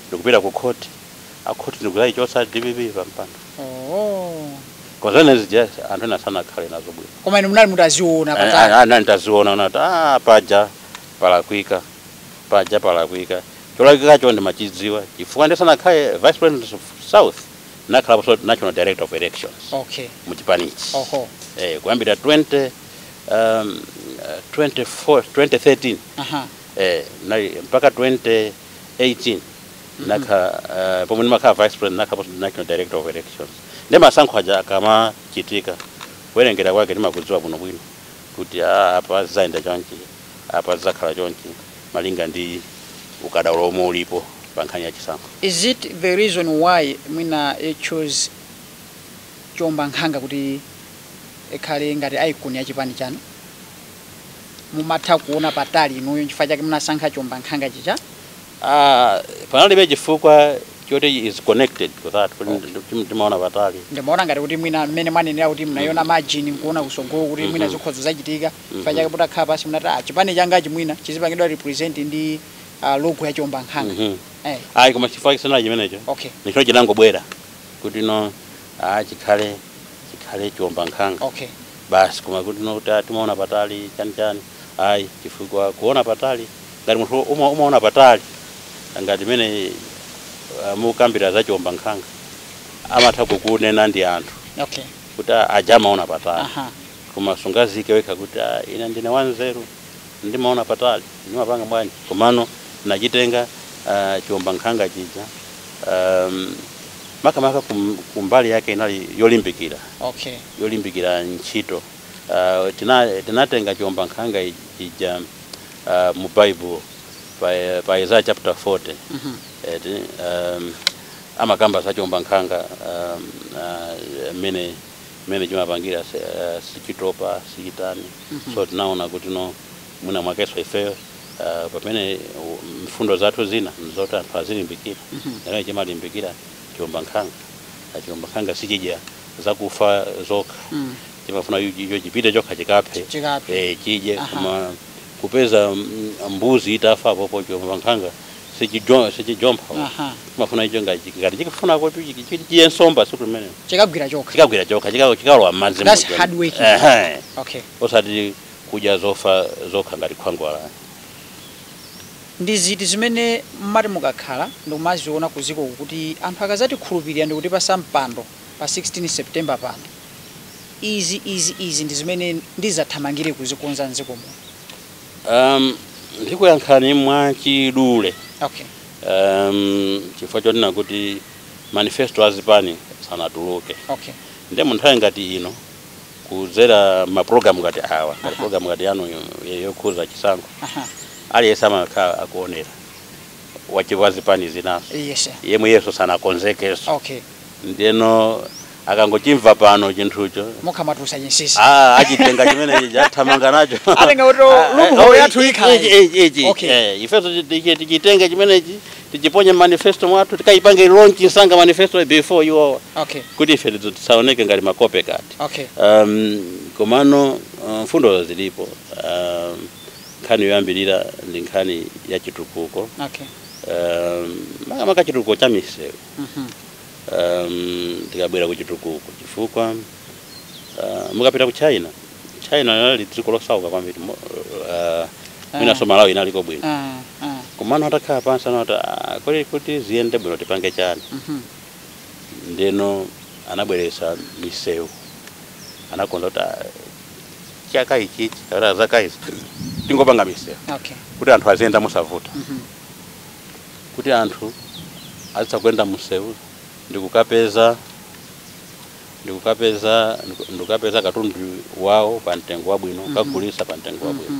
ndikupita ku khoti akhoti ndikuzayichotsa dpp pampando koma zija anthu ena sanakhale nazo bwino koma inu munali mutaziona Eh, patali ah, ah, ndaziona unati ah, paja palakwika paja palakwika cholakwikacho ndimachidziwa chifukwa ndisanakhale vice president of south ndinakhalapo national director of elections okay muchipanichi oho eh, kuyambira 20 um, 24, 2013 Aha. eh, ndinali mpaka 2018 nakha eh, pomwe ndimakhala vice president nakhalaponso national director of elections nde masankho aja akamachitika kuwerengera kwake ndimakudziwa bwino bwino kuti ah, apa zayenda chonchi apa zakhala chonchi malinga ndi ukadaulo womwe ulipo pa nkhani ya chisankho Is it the reason why mwina you chose chombankhanga kuti ikhale ngati icon ya chipani chanu mumatha kuona patali inuyo nchifukwa chake munasankha chombankhanga chija Ah, panalibe chifukwa choti is connected to that kuti ndi- ndimaona patali ndimaona ngati kuti mwina mmene mwanenera kuti mnaiona margin nkuona kusogolo kuti mwina zikhoza kuzachitika chifukwa chake mutakhala pansi munati ah, chipani changachi mwina chizipangidwa represent ndi ah, logo ya chombankhanga Mhm. eh, ayi koma chifukwa sichinali chimenecho okay ndicho chinangobwera kuti no chikhale chikhale chiwombankhanga okay basi koma kuti no kuti ah, timaona patali chani chani ayi chifukwa kuona patali ngati munthu uma- umaona patali ngati mmene ah, mukambira za chiwombankhanga amatha kukunena ndi anthu okay kuti ah, aja amaona patali aha koma sungazike wekha kuti ah, ine ndine wanzeru ndimaona patali ndimapanga bwanji komano nachitenga uh, chiwombankhanga chija um, makamaka kum, kumbali yake inali yolimbikira okay yolimbikira ntchito uh, tina, tinatenga chiwombankhanga chija uh, mu bible pa, pa isaiah chapter 40 eti um, amakamba za chiwombankhanga um, uh, mene mmene chimapangira si- eh, sichitopa sichitani so tinaona kuti no mwina mwakenso ifeyo eh, pamene u- mfundo zathu zina nzoti anthu azilimbikira mmene chimalimbikira chiwombankhanga Ah, chiwombankhanga sichidya zakufa zokha chimafuna icho chipite chokha chikaphe Chikaphe. eh, chidye Aha. koma kupeza mm, mbuzi itafa apopo chiwombankhanga sichijo- sichijompha aha chimafuna icho ngati chiki- ngati chikufuna kuti chiki- chiki- chidye nsomba tsiku limenelo chikagwira chokha chikagwira chokha chika- chikalowa m'madzi That's muja. hard working. Ehe. okay osati kudya zofa zokha ngati khwangwala ndi ziti zimene mmati mukakhala ndikumaziona kuziko kuti anthu akazatikhulupirira ndi kutipasa mpando pa 16 september pano izi izi izi ndi zimene ndizathamangire kuzikonza mdziko muno Um, ndikuyankhani mwachidule Okay. um, chifukwa chonena kuti manifesto azipani sanatuluke Okay. nde mu nthawi ngati ino kudzera mapulogalamu ngati awa ngati pulogalamu ngati yanu yo- yokhuza chisankho Aha. aliyense amakhala akuonera wazipani zinaso Yes. yemweyeso sanakonzekenso Okay. ndeno akangochimva pano chinthucho mukhamatulusa chinsisi Ah, achitenga chimenechi athamanga nacho Atenga kuti Ah, loop eh, hole oh, yathu ichi- ikhala ichi- iyi. ichi- ichi. Okay. Eh, ifeso ti- ti- tichitenge chimenechi tichiponye mmanifesto mwathu tikayipange launch nsanga manifesto before you all okay kuti ife tizo- tisaoneke ngati ma copycat okay um, komano uh, mfundo zilipo um, nkhani yoyambirira ndi nkhani ya chitukuko okay um, makamaka chitukuko cha misewu Mhm. um, tikabwera ku chitukuko chifukwa uh, mukapita ku china china linali dziko losauka kwambiri mo- uh, mwinanso malawi inaliko bwino Ah, ah, komano atakhala pansi anati "Ah, kodi kuti ziyende bwino tipange chani mhm. ndeno anabweresa misewu anakonza kuti "Ah, chaka ichichi kapena zaka izi tingopanga misewu Okay. kuti anthu aziyenda mosavuta Mhm. kuti anthu azitha kuyenda mumsewu ndi kukapeza ndi kukapeza ndi kukapeza katundu wawo pa mtengo wabwino kukagulitsa pa mtengo wabwino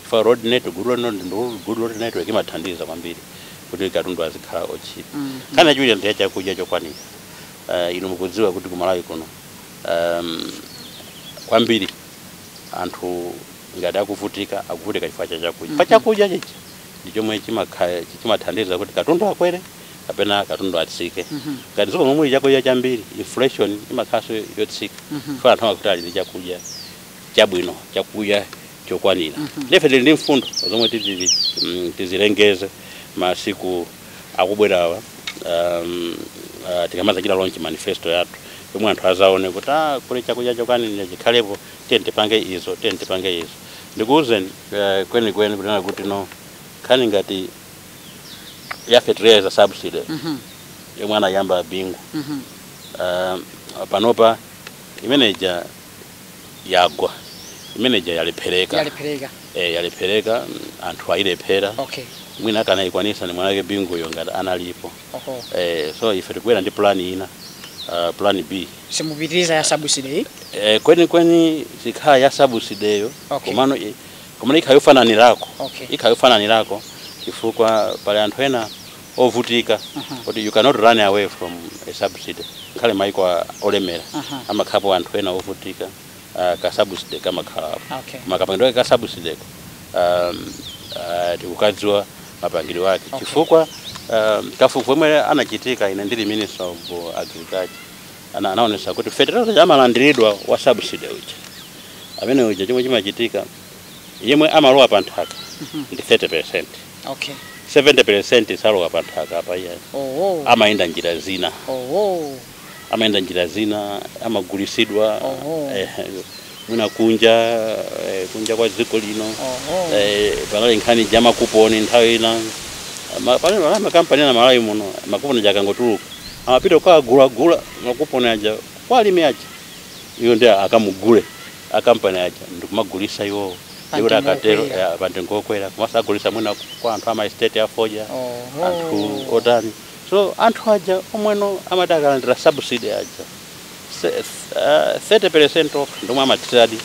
chifukwa road net good road net- ndi- good road network imathandiza kwambiri kuti katundu azikhala otchipa nkhani yachiwiri ndi ya chakudya chokwanira Eh, inu mukudziwa kuti kumalawi kuno um, kwambiri anthu ngati akuvutika akuvutika chifukwa cha chakudya pa chakudya chichi ndi chomwe chimakha- chimathandiza kuti katundu akwere kapena katundu atsike ngati dziko lomwe muli chakudya chambiri inflation imakhalanso yotsika chifukwa anthu amakuti ali ndi chakudya chabwino chakudya chokwanira nde ife tili ndi mfundo zomwe titi mm, tizilengeze masiku akubwerawa um, uh, tikamazachita launch manifesto yathu yomwe anthu azaone kuti ah, kuti chakudya chokwanira chikhalepo tiye tipange izo tiye tipange izo ndikuwuzeni Eh, kwenikweni kunena kuti no nkhani ngati ya fertilizer subsidy Mhm, yomwe anayamba bingu mhm. Ah, panopa imeneja yagwa imeneja yalephereka yalephereka eh, yalephereka mm, anthu ayilephera okay mwina akanayikwanisa ni mwanake binguyo ngati analipo oho eh, so ife tikubwera ndi plan ina uh, plan b simupitiriza ya sabusideyi eh, kwenikweni sikhala ya sabusideyo Okay. komano i- komano ikhala yofananirako Okay. ikhala yofananirako chifukwa pali anthu ena ovutika kuti you cannot run away from a subsidy ngakhale maiko a- olemera Aha. amakhalapo anthu ena ovutika uh, ka subsidy kamakhalapo Okay. koma kapangidwe kake ka subsidy ko um, uh, tikukadziwa mapangidwe ake Okay. chifukwa um, kafukufuku yemwe anachitika ine ndili minister of uh, agriculture ana, anaonesa kuti fertilizer amalandiridwa wa subsidy uja amene uja chomwe chimachitika yemwe amalowa pa nthaka ndi 30 percent okay 70 percent salowa pa nthaka ayi oh, oh. amayenda njira zina oh, oh. amayenda njira zina amagulisidwa Oho. eh, mwina kunja eh, kunja kwa dziko lino Oho. eh, panali nkhani ja makuponi nthawi ina Ma- pali pali makampani ena malawi muno makuponi aja akangotuluka amapita kukagulagula makuponi aja kwa alimi aja iwo nde akamugule akampani aja ndikumagulisa iwowo Pa ndikuti mtengo akatero wokwera. eh, pa mtengo wokwera komanso agulisa mwina kwa anthu ama estate a fodya Oho. anthu otani So anthu aja omweno amati akalandira subsidy aja se- th- ah, 30 percent okha ndomwe amathiradi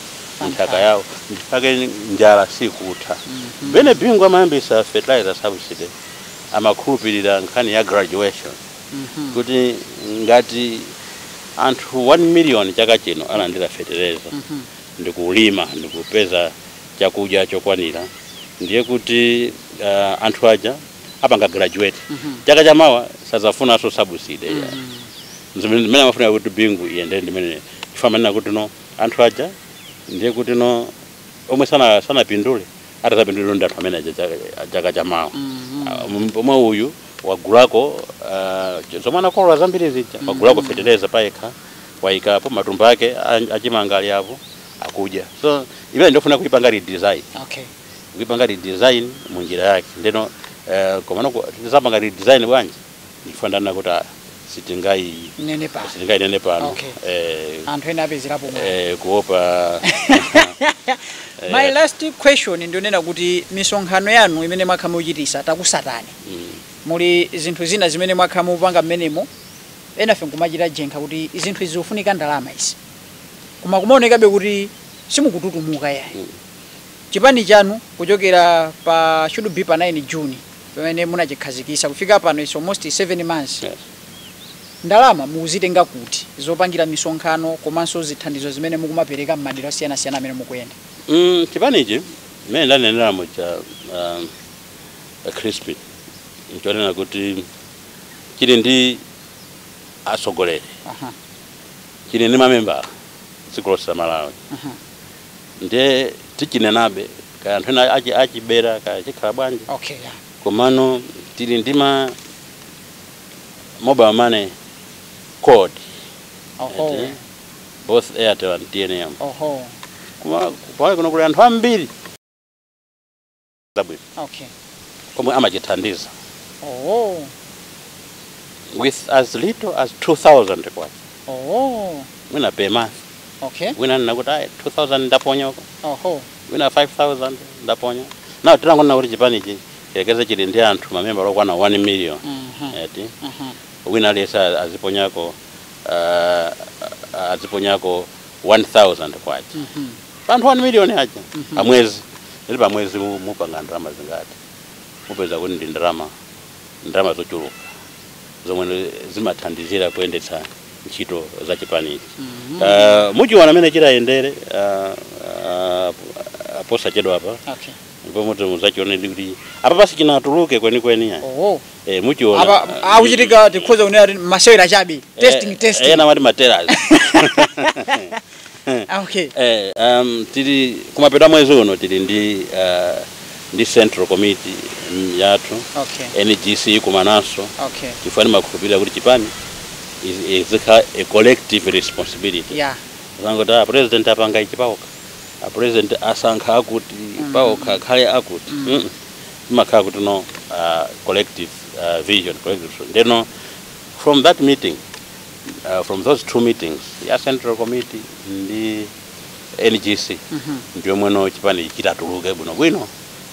nthaka yawo nde pake njala sikutha bene bingu amayambisa fertilizer subsidy amakhulupirira nkhani ya graduation kuti ngati anthu 1 million chaka chino alandira fetereza ndikulima ndikupeza chakudya chokwanira ndiye kuti ah, anthu aja apanga graduate chaka chamawa sazafunanso subsidy mm -hmm. zimene amafunira kuti Bingu iyendere ndimene chifukwa amanena kuti no anthu aja ndiye kuti no omwe sana- sanapindule atazapindule ndi anthu amene aja chaka- chaka chamawa Ah, m- pomwe uyu wagulako ah, ch- zomwe anakolola zambiri zija wagulako fetereza payekha wayikapo matumba ake a- achimanga ali apo akudya so imene ndofuna kuipanga redesign okay kuipanga redesign mu njira yake ndeno eh, komano ku- tizapanga redesign bwanji chifukwa ndana kuti ah, sitingai nene pa sitingainene pano Okay. eh, anthu ena apezerapo mwa eh, kuopa my last question ndiyonena kuti misonkhano yanu imene mwakhala mukuchititsa takusatani mm, muli zinthu zina zimene mwakhala mukupanga mmenemo enafe nkumachita jenkha kuti zinthu izi zikufunika ndalama izi koma kumaonekabe kuti simukututumuka yayi Mm. Chipani chanu kuchokera pa should be pa 9 June pamene munachikhazikisa kufika pano its almost 7 months Yes. ndalama mukuzitenga kuti zopangira misonkhano komanso zithandizo zimene mukumapereka m'madera osiyanasiyana amene mukuyenda Mm, chipanichi mmene ndanenera muja um, Crispin nchonena kuti chili ndi atsogoleri Aha, chili ndi mamembala dziko lonse la Malawi aha. nde tichinenabe kaya anthu ena achi- achibera kaya chikhala bwanji okay yeah. komano tili ndi ma mobile money codes oho eti, both Airtel and TNM oho koma pamene kuno kuli anthu ambiri zabwino okay komwe amachithandiza oh with as little as 2000 kwacha oh mwina per month okay wina nkuti ayi 2000 ndaponya uko oho wina 5000 ndaponya now tingonena kuti chipani ichi chilekeze chili ndi anthu mamembala okwana 1 million mhm eti mhm wina aliyense aziponyako uh, aziponyako 1000 kwacha mhm anthu 1 million aja pamwezi ndi pamwezi mu- mupanga ndalama zingati mupeza kuti ndi ndalama ndalama zochuluka zomwe ndi- zimathandizira kuyendetsa ntchito za chipanichi Ah, muchiona mmene chiyendere ah, ah, posachedwa apa okay ndipo muti muzachione ndi kuti apapa sichinatuluke kwenikweni ya oh eh, muchiona apa akuchitika tikhoza kunena kuti masewera chabe testing testing ena mati materas Ah, okay Eh, um, tili kumapeto a mwezi uno tili ndi uh, ndi central committee mm, yathu okay NGC ikumananso okay chifukwa ndimakhulupirira kuti chipani is- izikhala a collective responsibility yeah zongoti a president apanga ichi paokha a president asankha akuti paokha akhale akuti Mm-mm. imakhala kuti no uh, collective uh, vision collective so- ndiyeno from that meeting uh, from those two meetings ya central committee ndi ngc ndiyomweno chipani chitatuluke bwino bwino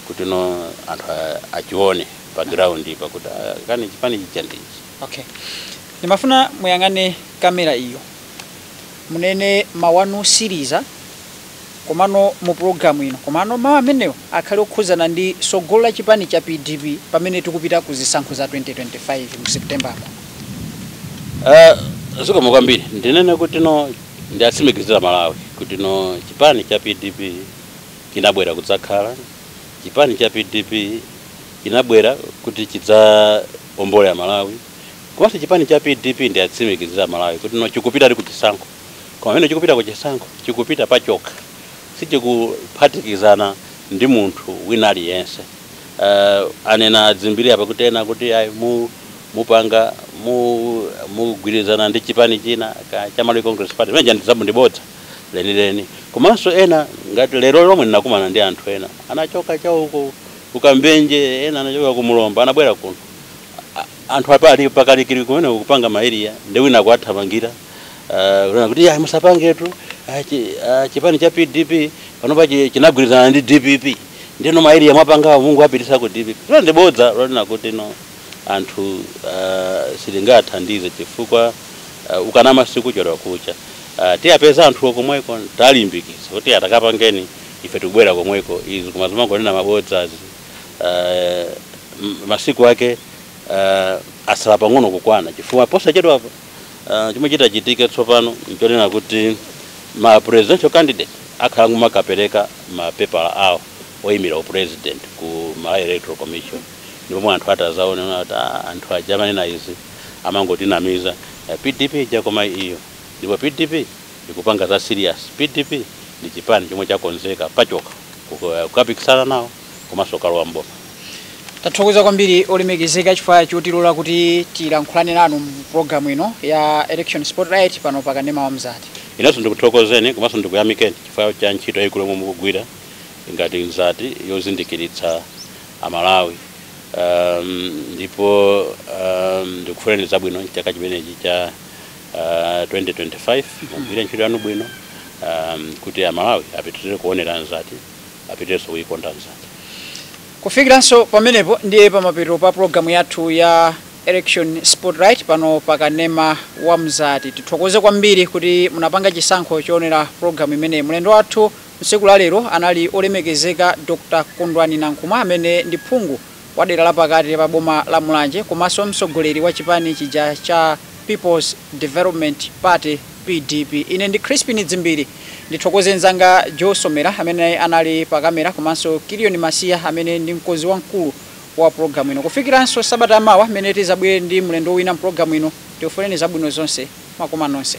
kuti no anthu a- achione pa ground pa kuti ah, kani chipani chija ndichi okay ndimafuna muyang'ane kamera iyo munene mawu anu otsiriza komano mu program ino komano mawu amenewo akhale okhuzana ndi sogolo la chipani cha pdp pamene tikupita ku zisankho za 2025 mu september mu Uh, zikomo kwambiri ndinene kuti no ndiwatsimikizire amalawi kuti no chipani cha pdp chinabwera kudzakhala chipani cha pdp chinabwera kuti chidzaombole amalawi komanso chipani cha pdp ndiwatsimikizire amalawi kuti no chikupitadi kuchisankho koma pamene chikupita ku chisankho chikupita pachokha sichikuphatikizana ndi munthu wina aliyense uh, anena a Dzimbiri apa kuti ena kuti ayi mu mupanga mu mugwirizana ndi chipani china cha Malawi Congress Party pamene ndi zabo- ndi bodza lenileni komanso ena ngati lero lomwe ndinakumana ndi anthu ena anachoka cha uko ku Kambenje ena anachoka ku Mulomba anabwera kuno A- anthu apa ali pakalikiri kumene kupanga ma area ndi wina kuwathamangira Ah, kunena kuti ayi musapangetu ah, chi- ah, chipani cha pdp panopa chi- chinagwirizana ndi dpp ndiyeno ma area mwapangawo mungowapititsa ku dpp lona ndi bodza lonena kuti no anthu ah, silingathandize chifukwa ah, ukanama sikuchedwa kucha Ah, tiwapeza anthuwo komweko tawalimbikitsa kuti atakapangeni ife tikubwera komweko izi koma zomangonena mabodzazi Ah, m- masiku ake ah, asala pang'ono kukwana chifukwa posachedwa Ah, chomwe chitachitike tsopano nchonena kuti ma presidential candidate akhala akumakapereka mapepala awo oyimira upresident ku Malawi Electoral Commission ndipomwe anthu atazaone kuti ah, anthu aja amanena izi amangotinamiza Eh, PDP ija koma iyo ndipo PDP ikupanga za serious PDP ndi chipani chomwe chakonzeka pachokha kuka- kukapikisana nawo komanso kukalowa m'boma. Tathokoza kwambiri olemekezeka chifukwa chotilola kuti tilankhulane nanu mu programu ino ya Election Spotlight pano pa Kanema wa Mzati. Inenso ndikuthokozeni komanso ndikuyamikeni chifukwa cha ntchito yayikulu yomwe mukugwira ngati Mzati yozindikiritsa Amalawi um, ndipo um, ndikufunirani zabwino chaka chimenechi cha uh, 2025 mugwire ntchito yanu bwino um, kuti Amalawi apitirize kuonera Mzati. apitirize kuikonda Mzati. Kufikiranso pamenepo ndiye pamapeto pa pulogalamu yathu ya Election Spotlight pano pa Kanema wa Mzati. Tithokoze kwambiri kuti munapanga chisankho choonera pulogalamu imeneyi. Mlendo wathu mtsiku la lero anali olemekezeka Dr. Kondwani Nankhumwa amene ndi phungu wa dera la pakati pa boma la Mulanje komaso mtsogoleri wa chipani chija cha Peoples Development Party, PDP. Ine ndi Chrispin Dzimbiri. Ndithokoze nzanga Joe Somera amene anali pa kamera komanso Kilion Masiya amene ndi mkozi wamkulu wa pulogalamu ino. Kufikiranso sabata ya mawa mmene tizabwere ndi mlendo wina mpulogalamu ino, tikufuneni zabwino zonse. Mwakoma nonse.